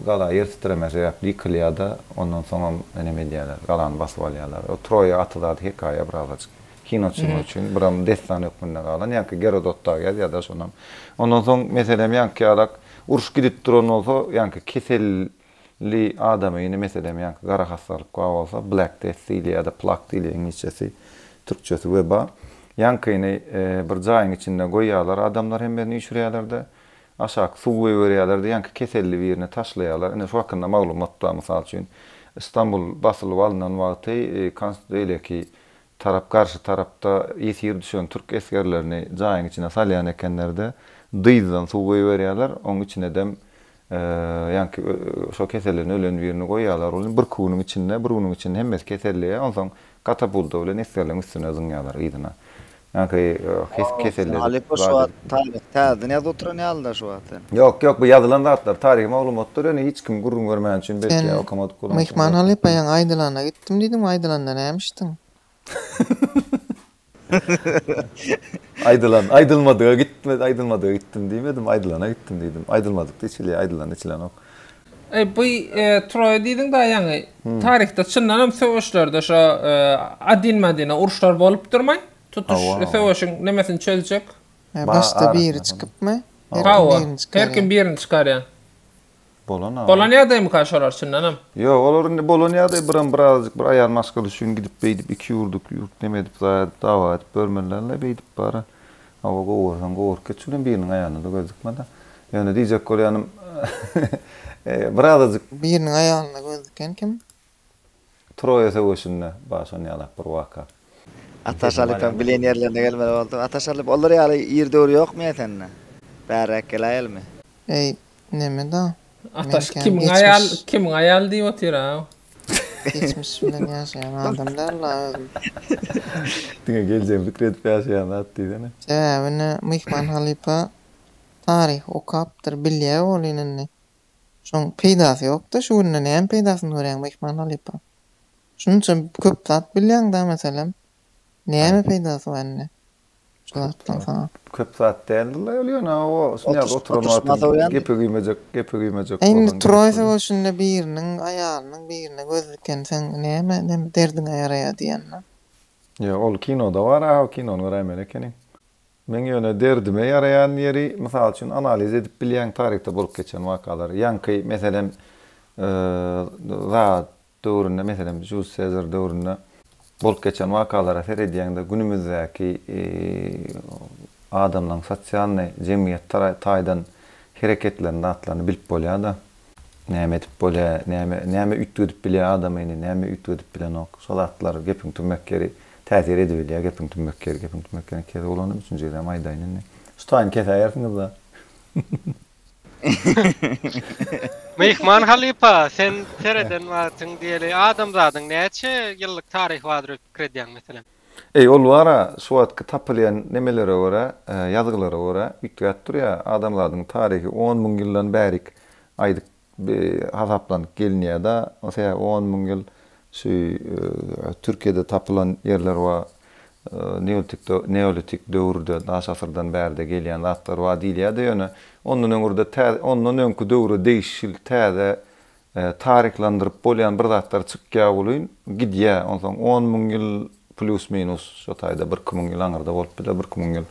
Gala ýer titreme sebäpli ýykylýar-da, ondan soňam neme edýärler, galany basyp alýarlar. O Troýa aty zady hekaýa birazajyk. Kino çyzmak üçin, buram dessan hökmünde galan. Ýaňky Gerodot dagy ýazýar-da şonam. Ondan soň, meselem, ýaňky ýalak uruş gidip duran bolsa, ýaňky keselli adamy, indi, meselem, ýaňky gara hassalyk bar bolsa, Black Death diýilýär ýa-da Plak diýilýär, iňlisçesi, türkçesi, weba. Ýaňkyny bir jaýyň içinde goýýarlar, adamlar hemmesini üýşürýärler-de, Aşak suw goýberýärler diýenki keselli birini taşlaýarlar. Ine şu hakynda maglumatda mysal üçin Istanbul basylyp alynan wagty konst beýleki tarap garşy tarapda ýesir düşen türk esgerlerini jaýyň içine salýan ekenlerde dyzdan suw goýberýärler oň içinedem ýanki şo keselden ölen birini goýýarlar ony birki günüň içinde bir günüň içinde hemmesi keselleýär onsoň Katapulta bilen esgerleň üstüne zyňýarlar yzyna. Ýaňky kesip keselledip zat edip. Taryh täzeden ýazyp oturan ýaly da şu wagt sen. Ýok ýok bu ýazylan zatlar taryhy maglumatdyr ýöne hiç kim gürrüň bermän üçin belki ýa okamadyk bolan üçin. Sen myhman halypaýyň aýdylanyna gitdim diýdiň aýdylanda näme içdiň? Aýdylan, aýdylmadyga gitme, aýdylmadyga gitdim diýmedim, aýdylana gitdim diýdim. Aýdylmadykda içilýär, aýdylanda içilenok. Eý, bu Troýa diýdiň da ýaňy. Taryhda çyndan hem söweşlerde şo adin-madine uruşlar bolupdyrmy? Tutuş söweşiň nemesini çözjek. Başda biri çykypmy? Hawa, her kim birini çykarýar. Bolana. Bolan ýagdaýmyka şolar çyndanam? Ýok, olar indi bolan ýagdaý biram birazajyk bir aýal maşgala üçin gidip beýdip iki ýurdyk ýurt neme edip zaýa edip dawa edip görmelilerle beýdip bara hawa gowy görseň gowy bolup geçjek welin biriniň aýalyna-da göz dikmada ýöne diýjek bolýanym birazajyk Biriniň aýalyna göz diken kim? Troýa söweşinde başan ýalak bir waka. Ata Şalyp hem bilen ýerlerine gelmeli boldy. Ata Şalyp olar ýaly ir döwür ýokmy ýa sende? Bärräk geläýelmi? Eý, neme da? Ata şu kimiň aýaly, kimiň aýaly diýip otyr a? Geçmiş bilen ýaşaýan adam däl la özüm. Diňe geljegi pikir edip ýaşaýan zat diýsene. Sebäbi ine myhman halypa taryhy okapdyr, bilýä ol ine indi. Şoň peýdasy ýok-da, şu günde näme peýdasyny görýäň Myhman halypa? Şunça köp zat bilýäň-dä meselem, näme peýdasy bar indi şu zatlaryň saňa? Köp zat däldir-le ol ýöne o Snýaz oturan wagty gepe güýmejek, gepe güýmejek bolsam gerek. Indi Troý söweşinde biriniň aýalynyň birine göz dikenseň näme, näme derdiňe ýaraýar diýýän-dä. Ýok, ol kinoda bar-a, o kinony göräýmeli ekeniň. Meň ýöne derdime ýaraýan ýeri, mysal üçin, analiz edip bilýän taryhda bolup geçen wakalary. Ýaňky, meselem, zat döwründe, meselem, Juliýus Sezar döwründe bolup geçen wakalara seredýäňde, günümizdäki adamlaryň sosialnyý, jemgyýet taýdan hereketlerini, zatlaryny bilip bolýar-da. Näme edip bolýa, näme, näme üýtgedip bilýä adamy indi, näme üýtgedip bilenok. Şol zatlar gepiň tümmek ýeri, täsir edibilýä gepiň tümmek ýeri, gepiň tümmek ýerini iki gezek ulandyp, üçünji gezegem aýdaýyn indi. Şu taýyny kesäýersiňizda. Myhman halypa, sen sereden wagtyň diýeli adamzadyň näçe ýyllyk taryhy bardyr öýdüp pikir edýäň meselem? Eý, ol bar-a, şu wagtky tapylýan nemelere görä, ýazgylara görä, üýtgäp durýar. Adamzadyň taryhy on müň ýyldan bärik aýdyp, hasaplanyp gelinýär-de. Sebäbi on müň ýyl şu Türkiýede tapylan ýerler bar. Neolitik döwürde, daş asyrdan bärde gelýän zatlar bar diýilýär-de, ýöne ondan öňürde, ondan öňki döwre degişli täze Taryhlandyryp bolýan bir zatlar çykýa welin gidýä onsoň on müň ýyl plýus minus şo taýda bir iki müň ýyl aňyrda bolup biler bir iki müň ýyl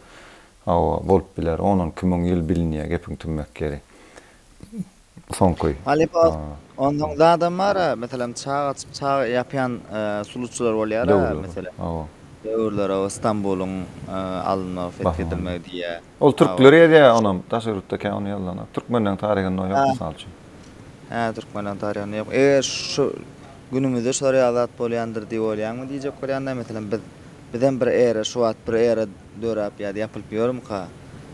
hawa bolup biler on on iki müň ýyl bilinýä gepiň tümmek ýeri soňky Halypa onsoň zadam bara meselem çaý açyp çaý ýapýan suluçylar bolýara meselem döwürler hawa Stambulyň alynmagy fethedilmegi diýýä. Ol türkler ýazýar onam, daşary ýurtda kän ony ýazylana. Türkmenleriň taryhynda ýok, mysal üçin. Hä, türkmenleriň taryhynda ýok. Eger şu günümizde şular ýaly zat bolýandyr diýip oýlaýaňmy diýjek bolýan-da, meselem, biz, bizem bir era, şu wagt bir era döräp ýa-da ýapylyp ýörmüka?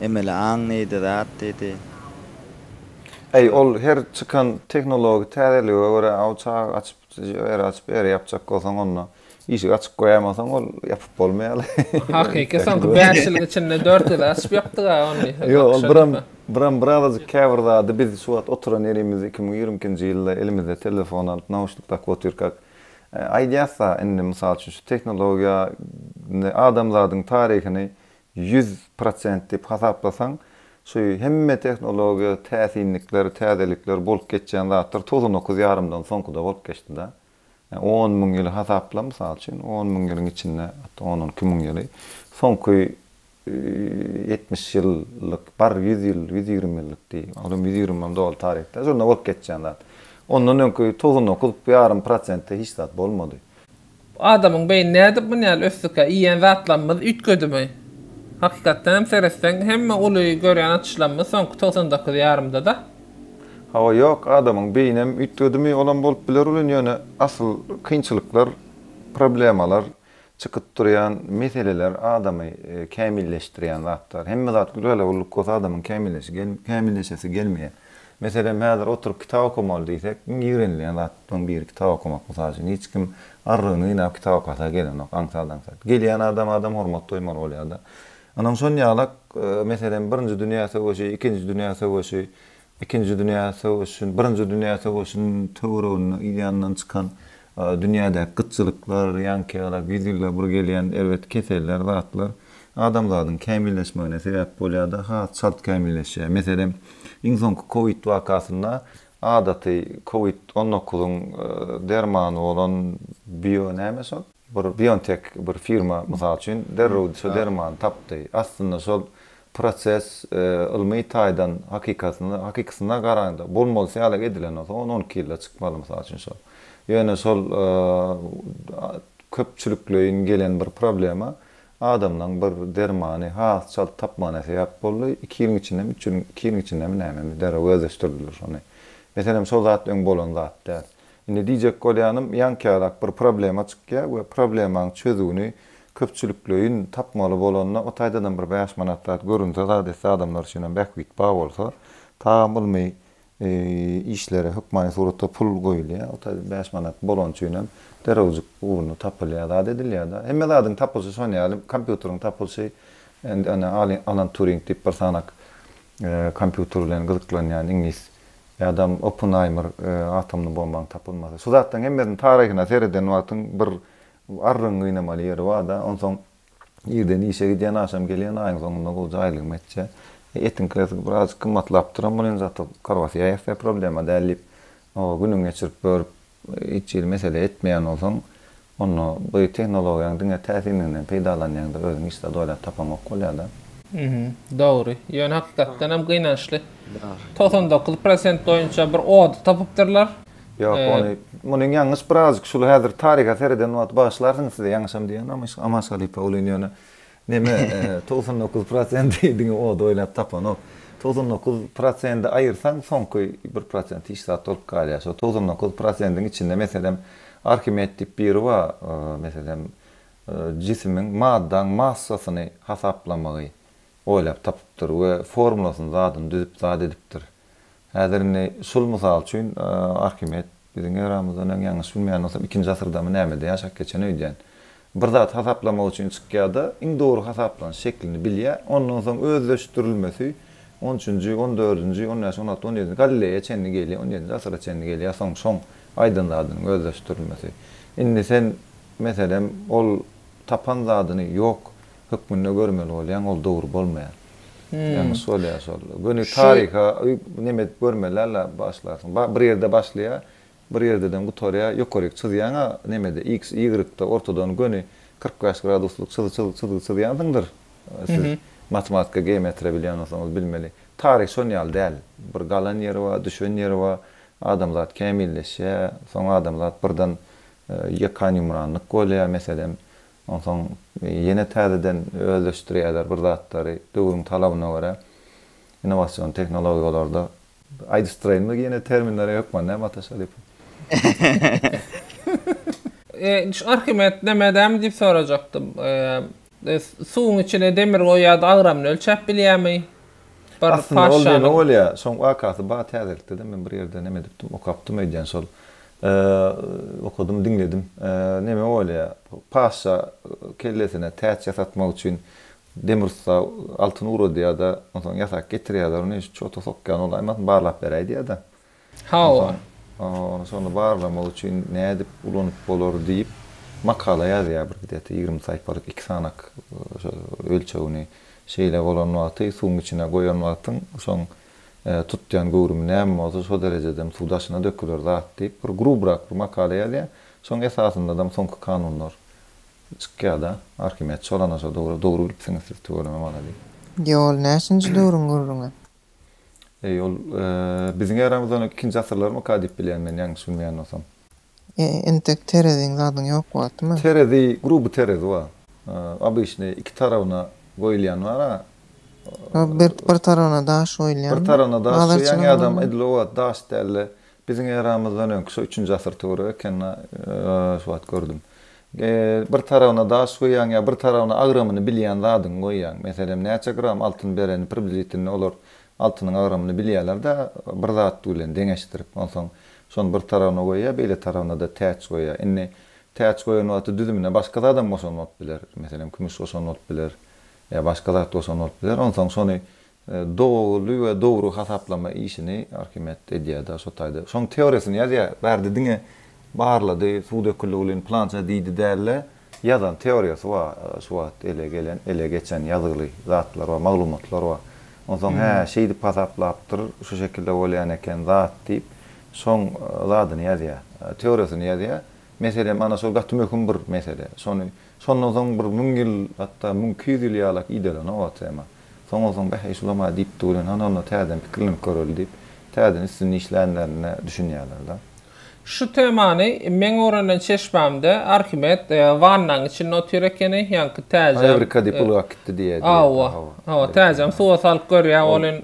Emeli aň diýdi, zat diýdi. Äý, ol her çykan tehnologik täzelige görä, aw çag açyp, era açyp, era ýapjak bolsaň, onda. Işigi açyp goýaýmasaň ol ýapyp bolmaýaly. Hakyky soňky bäş ýylyň içinde dört gezek açyp ýapdyga ony. Ýok ol biram biram birazajyk käbir zady biz şu wagt oturan ýerimizi iki müň ýigrimi ikinji ýylda elimizde telefon alyp nauşnik dakyp otyrkak aýdýasda indi mysal üçin şu tehnologiýa ne adamzadyň taryhyny ýüz prosent diýip hasaplasaň şu hemme tehnologiýa täsinlikler täzelikler bolup geçýän zatlar togsan dokuz ýarymdan soňkuda bolup geçdida. On müň ýyly hasapla, mysal üçin, on müň ýylyň içinde, hatda on on iki müň ýyly, soňky ýetmiş ýyllyk, bar, ýüz ýyl, ýüz ýigrimi ýyllyk diý, ol hem ýüz ýigrimi doly taryh däl, şonda bolup geçýän zat. Ondan öňki togsan dokuz ýarym prosentde hiç zat bolmady. Adamyň beýni nädip muny ýaly ösdükä? Iýýän zatlarymyz üýtgedimi? Hakykatdan hem seretseň, hemme uly görýän açyşlarymyz soňky togsan dokuz ýarymda-da. Hawa ýok adamyň beýinem üýtgedimi olam bolup biler welin ýöne asyl kynçylyklar problemalar çykyp durýan meseleler adamy kämilleşdirýän zatlar hemme zat gülgala gulluk bolsa adamyň kämilleşesi gelmeýär meselem häzir oturyp kitap okamaly diýsek iň ýigrenilýän zatlaryň biri kitap okamak mysal üçin hiç kim arrygyny gynap kitap okasa gelenok aňsat aňsat gelýän adama adam hormat doýmaly bolýada Ynam şon ýalak, meselem, Birinji dünýä söweşi, Ikinji dünýä söweşi, Ikinji dünýä söweşin, Birinji dünýä söweşin töwereginde ýandan çykan dünýädäki gytçylyklar, ýankeýalak, ýüz ýylda bir gelýän erbet keseller, zatlar adamzadyň kämilleşmegine sebäp bolýar-da, has çalt kämilleşýär. Meselem, iň soňky kowid wakasynda adaty kowid on dokuzyň dermany bolan bio näme şol? Bir Biontech bir firma, mysal üçin, derrew şu dermany tapdy. Aslynda şol proses ylmy taýdan hakykatynda, hakykysyna garanda, bolmalysy ýaly edilen bolsa, on, on iki ýylda çykmaly, mysal üçin, şol. Ýöne şol köpçülikleýin gelen bir problema, adamlaryň bir dermany has çalt tapmagyna sebäp boldy. Iki ýylyň içindemi, üç ýylyň, iki ýylyň içindemi nämemi derrew özleşdirdiler şony. Meselem, şol zat öň bolan zat däl. Indi diýjek bolýanym, ýaňkärek bir problema çykýar we problemaň çözüwini köpçülikleýin tapmaly bolanda, o taýdanam bir bäş manat zat görünse, zat etse, adamlar üçinem bähbit bar bolsa, tabam ylmy işlere hökmany suratda pul goýulýar, o taýdan bäş manat bolany üçinem derewjik ugruna tapylýar, zat edilýär-de. Hemme zadyň tapylyşy şonuň ýaly, kompýuteriň tapylyşy, indi ene Alan Turing diýip bir sanak kompýuter bilen gyzyklanýan iňlis Ýa-da Oppenheimer atomly bombaň tapylmasy. Şu zatlaryň hemmesini taryhyna sereden wagtyň bir arrygyňy gynamaly ýeri bar-da. Onsoň irden işe gidýän, agşam gelýän, aýyň soňunda gowja aýlygymy etjä. Etiňkisi birazajyk gymmatlapdyram, ol indi zat-a korwasiýa ýassaý, problema däl diýip, günüňi geçirip, börüp, Hiç hili mesele etmeýän bolsaň, onda bu tehnologiýaň diňe täsinliginden peýdalanýaňda özüň hiç zat oýlap tapaňok bolýada. Dogry. Ýöne hakykatdan hem gynançly. Togsan dokuz prosent boýunça bir ody tapypdyrlar. Ýok, ony, muny ýalňyş birazjyk şul häzir taryha sereden wagt bagyşlarsyňyz size ýalňyşam diýýän Amaş halypa ulyny ýöne Neme, togsan dokuz prosenti diňe ody oýlap tapanok. Togsan dokuz prosendi aýyrsaň, soňky bir prosent hiç zat bolup galýar. Şol togsan dokuz prosentiň içinde, meselem, Arhimed diýip biri bar, meselem, jisimiň, maddaň massasyny hasaplamagy oýlap tapypdyr we formulasyny, zadyny düzüp zat edipdir. Häzir indi şul mysal üçin Arhimed, biziň eramyzdan öň ýalňyş bilmeýän bolsam ikinji asyrdamy nämede ýaşap geçen öýdýän. Bir zat hasaplamak üçin çykýada iň dogry hasaplanyş şeklini bilýär, ondan soň özleşdirilmesi on üçünji, on dördünji, on bäş, on alty, on ýedinji Galleýa çenli gelýär, on ýedinji asyra çenli gelýär soň şoň aýdan zadynyň özleşdirilmesi. Indi sen meselem ol tapan zadyny ýok hökmünde görmeli bolýaň, ol dogry bolmaýar. Ýalňyş bolýar şol. Göni taryha neme edip görmeli-le başlarsyň. Bir ýerde başlaýar, bir ýerdeden gutarýar, ýokaryk çyzýaň-a nemede, iks, ýygrykda, ortadan göni kyrk bäş graduslyk çyzgy çyzýansyňdyr siz. Matematika, geometriýa bilýän bolsaňyz bilmeli. Taryh şon ýaly däl. Bir galan ýeri bar, düşen ýeri bar. Adamzat kämilleşýär, soň adamzat birden ýekanýumranlyk bolýar. Meselem, Onsoň ýene täzeden özleşdirýärler bir zatlary, döwrüň talabyna görä innowasion tehnologiýalarda. Aýdyşdyraýynmy ýene terminlere hökman näme Ataş Halypa? Şu Arhimed nämedämi diýip sorajakdym. Suwuň içine demir goýýardy, agramyny ölçäp bilýärmi? Bir paşşanyň. Aslynda ol näme bolýar? Şoň wakasy bar täzelikde-de men bir ýerde näme edipdim, okapdym öýdýän şol Okadym, diňledim. Neme bolýa? Paşşa kellesine täç ýasatmak üçin demir ussa altyn ugradýa-da, onsoň ýasap getirýärler ony, şu çota sokýan ol, aýmasyn barlap ber aýdýa-da. Hawa. Onsoň, şony barlamak üçin nädip ulanyp bolar diýip, makala ýazýa bir gidýä-de, ýigrimi saýpalyk iki sanak, şo ölçegini şeýle bolan wagty, suwuň içine goýan wagtyň, soň tutýan göwrümi näme bolsa şo derejedem suw daşyna döküler zat diýip bir grubrak bir makala ýazýar. Şoň esasyndaam soňky kanunlar çykýada. Arhimed çolana şo dogry dogry bilipsiňiz siz tüweleme malades. Ýok ol näçinji döwrüň gürrüňi? Eý ol biziň eramyzdan öň ikinji asyrlarmyka diýip bilýän men ýalňyş bilmeýän bolsam. Entek tereziň zadyň ýok wagtymy. Terezi gruby terezi wa obyçnyý iki tarawyna goýulýan bara. Bir tarawyna daş goýulýan. Bir tarawyna daş goýýan ýadam edil o wagt daş dälde biziň eramyzdan öňki şo üçünji asyr töweregi ekeni şo wagt gördüm. Bir tarawyna daş goýýan ýa bir tarawyna agramyny bilýän zadyňy goýýan. Meselem näçe gram altyn bereni približitelni olar Altynyň agramyny bilýärler-de, bir zat bilen deňeşdirip, onsoň şony bir tarabyna goýýar, beýle tarabyna-da täç goýýar. Indi täç goýan wagty düzümine başga zadam goşan bolup biler. Meselem, kümüş goşan bolup biler ýa başga zat goşan bolup biler. Onsoň şony doly we dogry hasaplama işini Arhimed edýär-de, şo taýda şoň teoriýasyny ýazýar. Bärde diňe barlady, suw döküldi welin, plança diýdi däl-de. Ýazan teoriýasy bar, şu wagt ele gelen, ele geçen ýazgyly zatlar bar, maglumatlar bar. Onsoň hä, şeýdip hasaplapdyr, şu şekilde bolýan eken zat diýip, şoň zadyny ýazýar, teoriýasyny ýazýar. Mesele mana şol gaty möhüm bir mesele. Şony şondan soň bir müň ýyl, hatda müň iki ýüz ýyl ýalak idalana o tema. Soňursoň Bäh-eý şulam-a diýipdi welin hanolna täzeden pikirlenip göreli diýip, täzeden üstünde işlänlerine düşünýärler-de. Şu temany meň öwrenen çeşmämde Arhimed wannaň içinde otyr ekeni, ýaňky täjem. Ewrika diýip uly akitdi diýýär. Hawa, hawa, täjem suwa salyp görýär, ol in.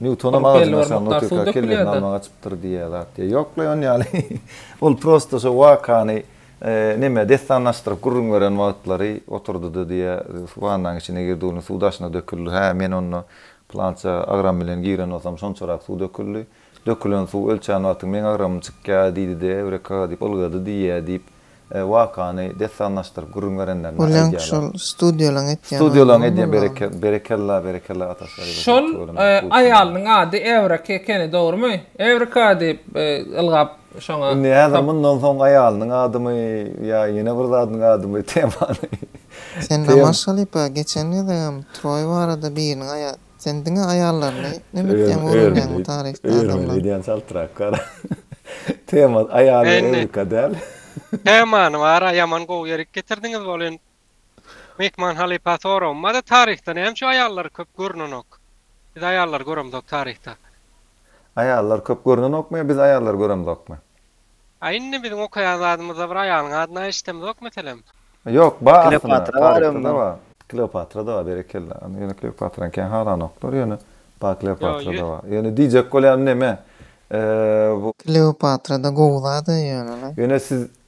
Nýutonam agajyň aşagynda otyrka kellesini almaga çypdyr diýýär zat diýýär. Ýok-la ony ýaly. Ol prosta şo wakany Neme, dessanlaşdyryp gürrüň beren wagtlary oturdy-da diýe, wannaň içine girdi, ony suw daşyna döküldi. Hä, men onda pylança agram bilen giren bolsam, şonçarak suw döküldi. Dökülen suw ölçän wagtyň meň agramym çykýa diýdi-de, Ewreka! diýip ylgady diýýä diýip, wakany dessanlaşdyryp gürrüň berenlerine aýdýarlar. Oläň şol studiýalaň etýän oýlary bolany. Studiýalaň edýän, berekella, berekella, berekella ata Şaryba Şol aýalynyň ady Ewreka ekeni, dogrumy? Ewreka! diýip ylgap Şoňa Indi häzir mundan soň aýalynyň adymy ýa ýene bir zadynyň adymy temany Sen Namaz Şalypa geçen gezegem Troý barada biriniň aýa Sen diňe aýallaryny nemetlýäň öwrenýäňmi taryhda adamlaň. Öwrenýän öýdýän çaltrak gar Tema aýaly öwrüka däl. Temany bara ýaman gowy ýerik getirdiňiz bolyn Mehman halypa soragym bar-da taryhda näme üçin aýallar köp görnenok? Biz aýallary göremzok taryhda. Aýallar köp görnenokmy ýa biz aýallary göremzokmy? A indi biziň okaýan zadymyzda bir aýalyň adyny eşdemzok meselem. Ýok bar aslynda taryhda-da bar. Kleopatra-da bar berekella. Ýöne Kleopatrany kän halanoklar ýöne bar Kleopatra-da bar. Ýöne diýjek bolýanym neme bu. Kleopatra-da gowy zad-a ýöne-le. Ýöne siz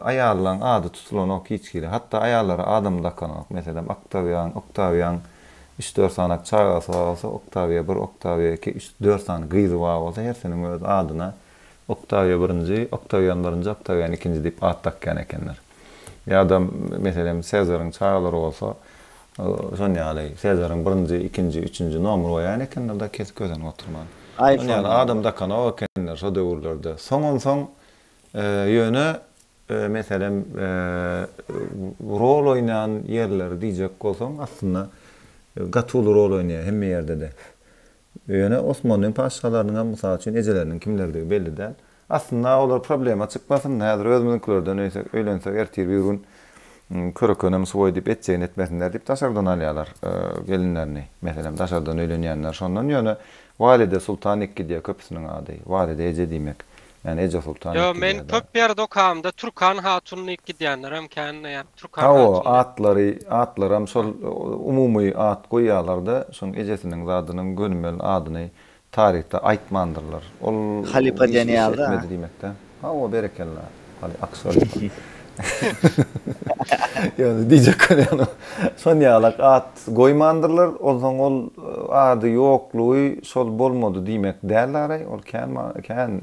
Aýallaň ady tutulanok hiç hili. Hatda aýallara adam dakanok. Meselem, Oktawian, Oktawian. Üç-dört sany çagasy bar bolsa, Oktawia bir, Oktawia iki, üç, dört sany gyzy bar bolsa, hersiniň öz adyna Oktawia birinji, Oktawian birinji, Oktawian ikinji diýip at dakýan ekenler. Ýa-da, meselem, Sezaryň çagalary bolsa, şon ýaly, Sezaryň birinji, ikinji, üçünji nomer goýan ekenler-de, kesip-kösenip oturman. Şon ýaly adam dakanok ekenler şo döwürlerde. Soňam-soň Ýöne, meselem, rol oýnan ýerleri diýjek bolsaň, aslynda, gaty uly rol oýnaýar, hemme ýerde-de. Ýöne Osmanlyň patyşalarynyň hem, mysal üçin, ejeleriniň kimlerdigi belli däl. Aslynda, olar problema çykmasyn, häzir özümiziňkilerden öýsek, öýlensek, ertir bir gün Körekenem suwaý diýip, etjegini etmesinler diýip, daşardan alýarlar gelinlerini. Meselem, daşardan öýlenýänler şondan. Ýöne Walide Sultan Ikkidýe köpüsiniň ady. Walide eje diýmek. Ýani Eje Sultan diýip gidýärdi. Ýo men köp ýerde okamda Türkan Hatun diýip gidýänlerem kän näme Türkan Hatun. Hawa atlary atlaram şol umumy at goýýalarda şoň ejesiniň zadynyň gönümel adyny taryhda aýtmandyrlar. Ol Halypa diýen ýaly da. Hawa berekella. Haly Akshalypa. Ýöne diýjek bolýanym, şon ýalak at goýmandyrlar, onsoň ol ady ýoklugy şol bolmady diýmek däl-de araý, ol kän many, kän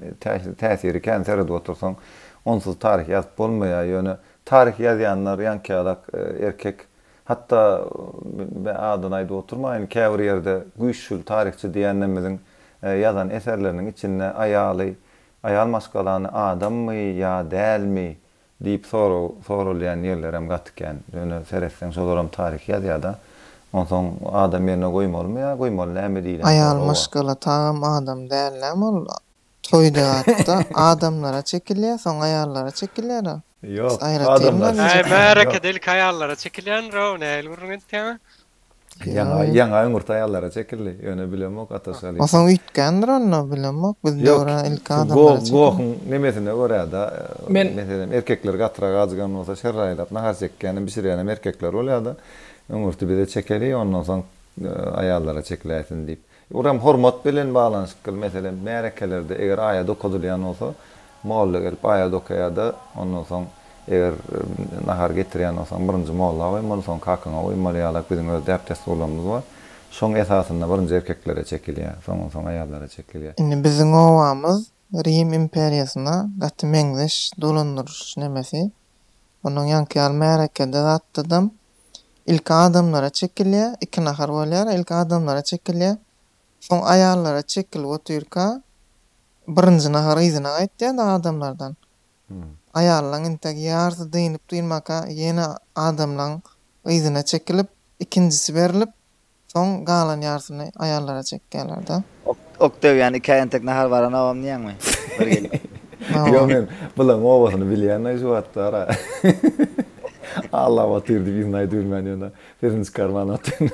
täsiri, kän seredip otursaň, onsuz taryh ýazyp bolmaýar, ýöne taryh ýazýanlar ýaňkyýalak erkek, hatda men adyny aýdyp oturmaýyn, käbir ýerde güýçli taryhçy diýýänlerimiziň ýazan eserleriniň içinde aýaly Aýal maşgalany adammy ýa dälmi diýip sorag soralýan ýerlerem gaty kän. Ýöne seretseň şolaram taryhy ýazýada. Onsoň adam ýerine goýmalymy ýa goýmaly näme diýlen soraga. Aýal maşgala tagam adam däl näme ol toýdagatda adamlara çekilýä soň aýallara çekilýära. Ýok adamlar. Äý märekedelik aýallara çekilýändir o nähili gürrüň edýäňä. Ýaňa ümürt aýallara çekildi. Ýöne bilemok Ataş halypa. Osoň üýtgändir onda bilemok biz döwre ilki adamlara çekildi. Ýok gohuň nemesine görä-de meselem erkekler gatyrak ajygan bolsa şerr aýlap nahar çekýänem bişirýänem erkekler bolýa-da ümürti bize çekeli ondan soň aýallara çekiläýsin diýip. Uram hormat bilen baglanyşykly meselem märekelerde eger aýat okadylýan bolsa molla gelip aýat okaýada ondan soň eger nahar getirýän bolsaň birinji molla goýmaly soň kakyňa goýmaly ýalak biziň öz däp dessurlarymyz bar şoň esasynda birinji erkeklere çekilýär soňdan soň aýallara çekilýär. Indi biziň obamyz Rim imperiýasyna gaty meňzeş dolandyryş nemesi onuň ýaňky ýaly märekede zatdadam Ilki adamlara çekilýär, iki nahar bolýar, ilki adamlara çekilýär, soň aýallara çekilip otyrka, birinji nahar yzyna gaýtýar-da adamlardan. Aýallaň entek ýarysy dynyp-dynmaka, ýene adamlaň yzyna çekilip, ikinjisi berlip, Soň galan ýarsyny aýallara çekýärler-de. Ok, ok döwýän ikä entek nahar baranogam diýýäňmi? Bir gelin. Ýok, men Bylagyň obasyny bilýän-ä şu wagtlar-a. Allap otyr diýip yzyny aýdybilmän ýöne pirinji karman otyryn.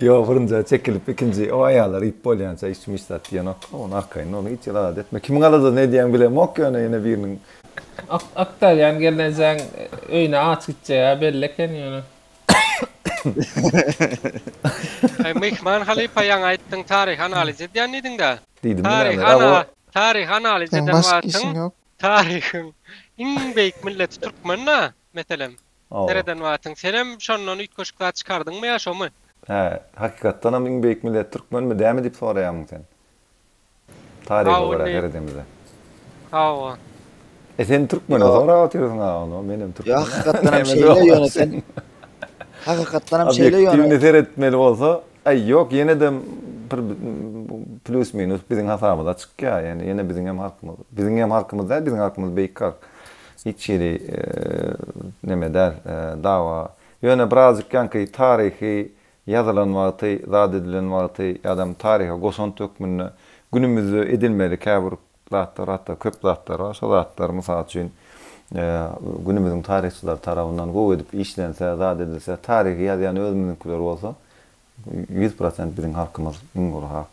Ýok, birinjä çekilip ikinji o aýallar iýip bolýança içmiş zat diýenok-a, ony arkaýyn ony hiç ýalagat etme. Kimiň aladasyny edýäňi bilemok ýöne ýene biriniň. Ok, ok döwýän gelnejeň öýüne aç gitjegi-ä belli eken ýöne. Eý, myhman halypa ýaňy aýtdyň taryhy analiz edýän diýdiň-dä. Diýdim diňe Taryhy ana, ana, taryhy analiz Seň eden başga wagtyň, işiň ýok. taryhyň iň beýik milleti türkmen-dä, meselem, Hawa. sereden wagtyň. Senem şondan üýtgeşik zat çykardyňmy ýa şomy? Hä, hakykatdanam iň beýik millet türkmenmi, dämi diýip soraýarmyň sen? Taryha görä seredemize. Sag bol. E sen türkmene sorap otyrsyň aga onda men hem türkmen. Hakykatdan hem şeýle ýöne sen. Hakykatdan hem şeýle ýöne. Obýektiwni seretmeli bolsa, aý ýok ýene de bir plus minus biziň hasabymyza çykýar. Ýani ýene biziň hem halkymyz. Biziň hem halkymyz däl, biziň halkymyz beýik halk. Hiç hili neme däl, dawa. Ýöne birazjyk ýaňky taryhy ýazylan wagty, zat edilen wagty ýa-da taryha goşant hökmünde günümizde edilmeli käbir zatlar, hatda köp zatlar bar. Şo zatlar, mysal üçin, günümiziň taryhçylary tarapyndan gowy edip işlense, zat edilse, taryhy ýazýan özümiziňkiler bolsa, ýüz prosent biziň halkymyz iň gowy halk.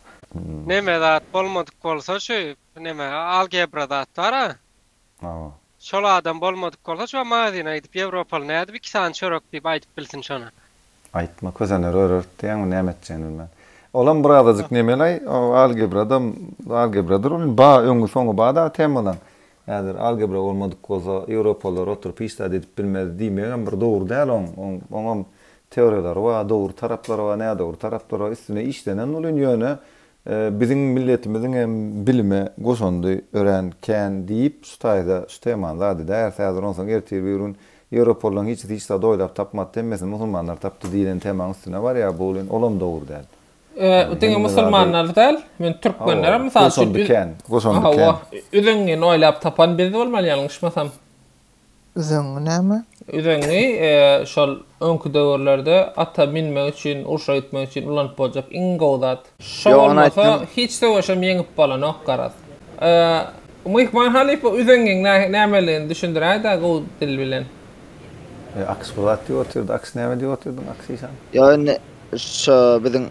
Neme zat bolmadyk bolsa şu neme algebra zat bar-a. Awa. Şol adam bolmadyk bolsa şo magazyna gidip ýewropaly nädip iki sany çörek diýip aýdyp bilsin şony. Aýtma kösenleri örerit diýýäňmi näme etjegini bilmän. Olam bir azajyk nemelaý o algebrada algebradyr ol ba öňi soňy ba dagy temalaň. Häzir algebra bolmadyk bolsa ýewropalylar oturyp hiç zat edip bilmez diýmegem bir dogry däl oň oň oňam teoriýalary ba dogry taraplary ba nädogry taraplary ba üstüne işlenen welin ýöne Biziň milletimiziň hem bilime goşandy örän kän diýip, şu taýda şu temany zadede ärt häzir onsoň ertir bir gün Ýewropalylaryň hiçisi hiç zady oýlap tapmady, hemmesini musulmanlar tapdy diýlen temaň üstüne barýar, bu len olam dogry däl. Ýöne diňe musulmanlar däl, men türkmenlerem mysal üçin goşandy kän, goşandy kän. Hawa, üzüňňini oýlap tapan biz bolmaly ýalňyşmasam. Üzeňňi näme? Üzeňňi, şol öňki döwürlerde ata minmek üçin, urşa gitmek üçin ulanyp boljak iň gowy zat. Şo bolmasa, hiç söweşem ýeňip bolanok, garaz. Myhman halypa üzeňňiň nämeligini düşündiräý-dä gowy dil bilen. Aks bir zat diýip otyrdy. Aks näme diýip otyrdyň, aks işan? Ýok, indi şo biziň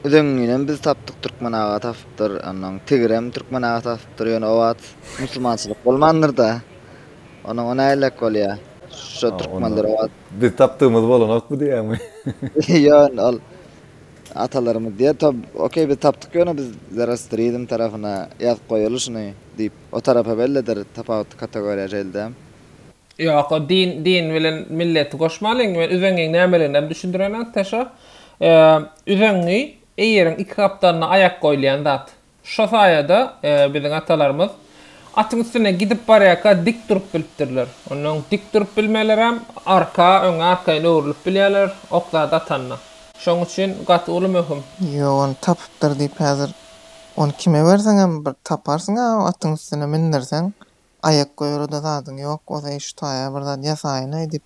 üzeňňinem biz tapdyk, türkmen aga tapypdyr, onnoň tigirem türkmen aga tapypdyr, ýöne o wagt musulmançylyk bolmandyr-da. Onuň o nälelik bolýa? Şo türkmenler owaz. Biz tapdygymyz bolanokmy diýýäňmi? Ýon ol atalarymyz diýýä to okey biz tapdyk ýöne biz zerostrizm tarapyna ýazyp goýaly şuny diýip o tarapa bellidir tapawutly kategoriýa şeýldem. Ýok o din din bilen milleti goşmalyň we üzeňiň nämeligini hem düşündireňok ta şo üzeňňi eýeriň iki gapdalynda aýak goýulýan zat. Şo saýada biziň atalarymyz atyň üstünde gidip barýarka dik durup bilipdirler. Ondan öň dik durup bilmelerem, arka, öňe arkaýyn öwrülip bilýärler, ok zat atanda. Şoň üçin gaty uly möhüm. Ýok, ony tapypdyr diýip häzir ony kime berseňem bir taparsyň-a atyň üstüne mindirseň, aýak goýara-da zadyň ýok, o zeý şu taýa bir zat ýasaýyn-aý diýip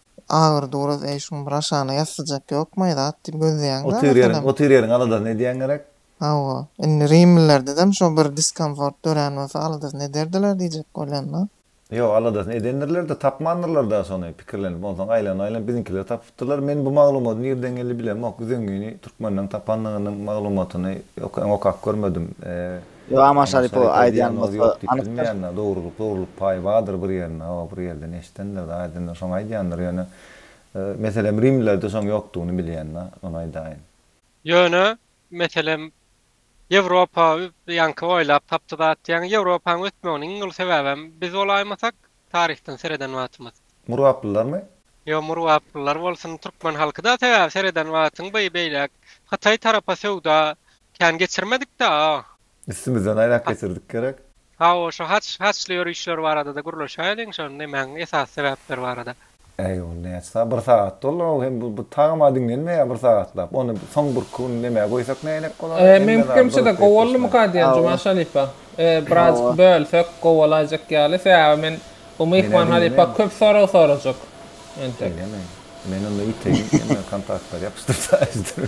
Agyr duraz eý şuň bir aşagyna ýassajak ýokmaý zat diýip gözleýäň dä Otyr ýeriň meselem. otyr ýeriň aladasyny edýäň gerek. Hawa. Indi rimlilerdeem şo bir diskomfort dörän bolsa aladasyny ederdiler diýjek bolýan-da. Ýok aladasyny edendirler-de tapmandyrlar da şony pikirlenip onsoň aýlanyp aýlanyp biziňkiler tapypdyrlar men bu maglumady nirden geldi bilemok üzengini türkmenden tapandygynyň maglumatyny okap görmedim. Ýok Aman Şaripow aýdýan bolsa anykdyr. Dogrulyk dogrulyk paýy bardyr bir ýerinde hawa bir ýerden eşidendirda aýdandyr şoňa aýdýandyr ýöne meselem rimlilerde şoň ýokdugyny bilýända ony aýdaýyn. Ýöne meselem Ýewropa ýaňky oýlap tapdy zat diýýäň Ýewropaň ösmeginiň iň uly sebäbem biz bolaýmasak taryhdan sereden wagtymyz. Murgaplylarmy? Ýok murgaplylar bolsun türkmen halky da sebäbi sereden wagtyň by beýläk hytaý tarapa söwda kän geçirmedikda a. Üstümizden aýlap geçirdik gerek. Hawa şu haç haçly ýörüşler barada-da gürleşäýeliň şony nämäň esasy sebäpleri barada. Äý ol näçe sagat? Bir sagat doly ol hem bu tagama diňlenmeýär bir sagatlap. Ony soň birki gün nämä goýsak näýerek bolar? Hemme zady durup Meňkimçede gowuldymyka diýen Juman halypa. Birazjyk bölsek gowulaýjak ýaly. Sebäbi men bu myhman halypa köp sorag sorajak entek. Diňleme. Men onda ýiteýin. Sen maňa kontaktlary ýapyşdyr taýsydyr.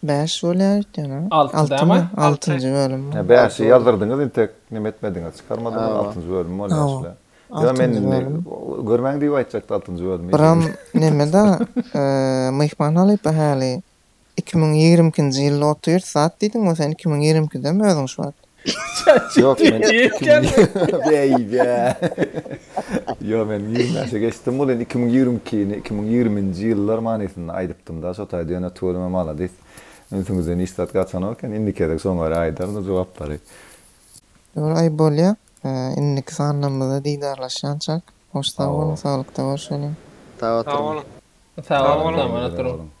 Bäş bolýaýt ýöne. Alty dämi? Altynjy bölüm. Ýa bäşi ýazdyrdyňyz intek neme etmediňiz çykarmadyňyz altynjy bölüm bolýa şüle. Ýa men indi görmäň diýip aýtjakdy altynjy bölümi. Buram nemeda myhman halypa häli iki müň ýigrimi ikinji ýylda otyr zat diýdiňmi sen iki müň ýigrimi ikidemi özüň şu wagt. Yok men Diýipken. Beýge. Yo men ýigrimi bäşe geçdim ol indi iki müň ýigrimi ikini, iki müň ýigriminji ýyllar manysynda aýdypdym-da şo taýda ýöne tüweleme maladis. Ünsüňizden hiç zat gaçanok eken indiki gezek şoň görä aýdaryn o jogaplary. Ýöne aý bolýa indiki sanlarymyzda didarlaşýançak. Hoş sag boluň saglykda görşeliň. Sag oturyň. Sag boluň tamana turuň.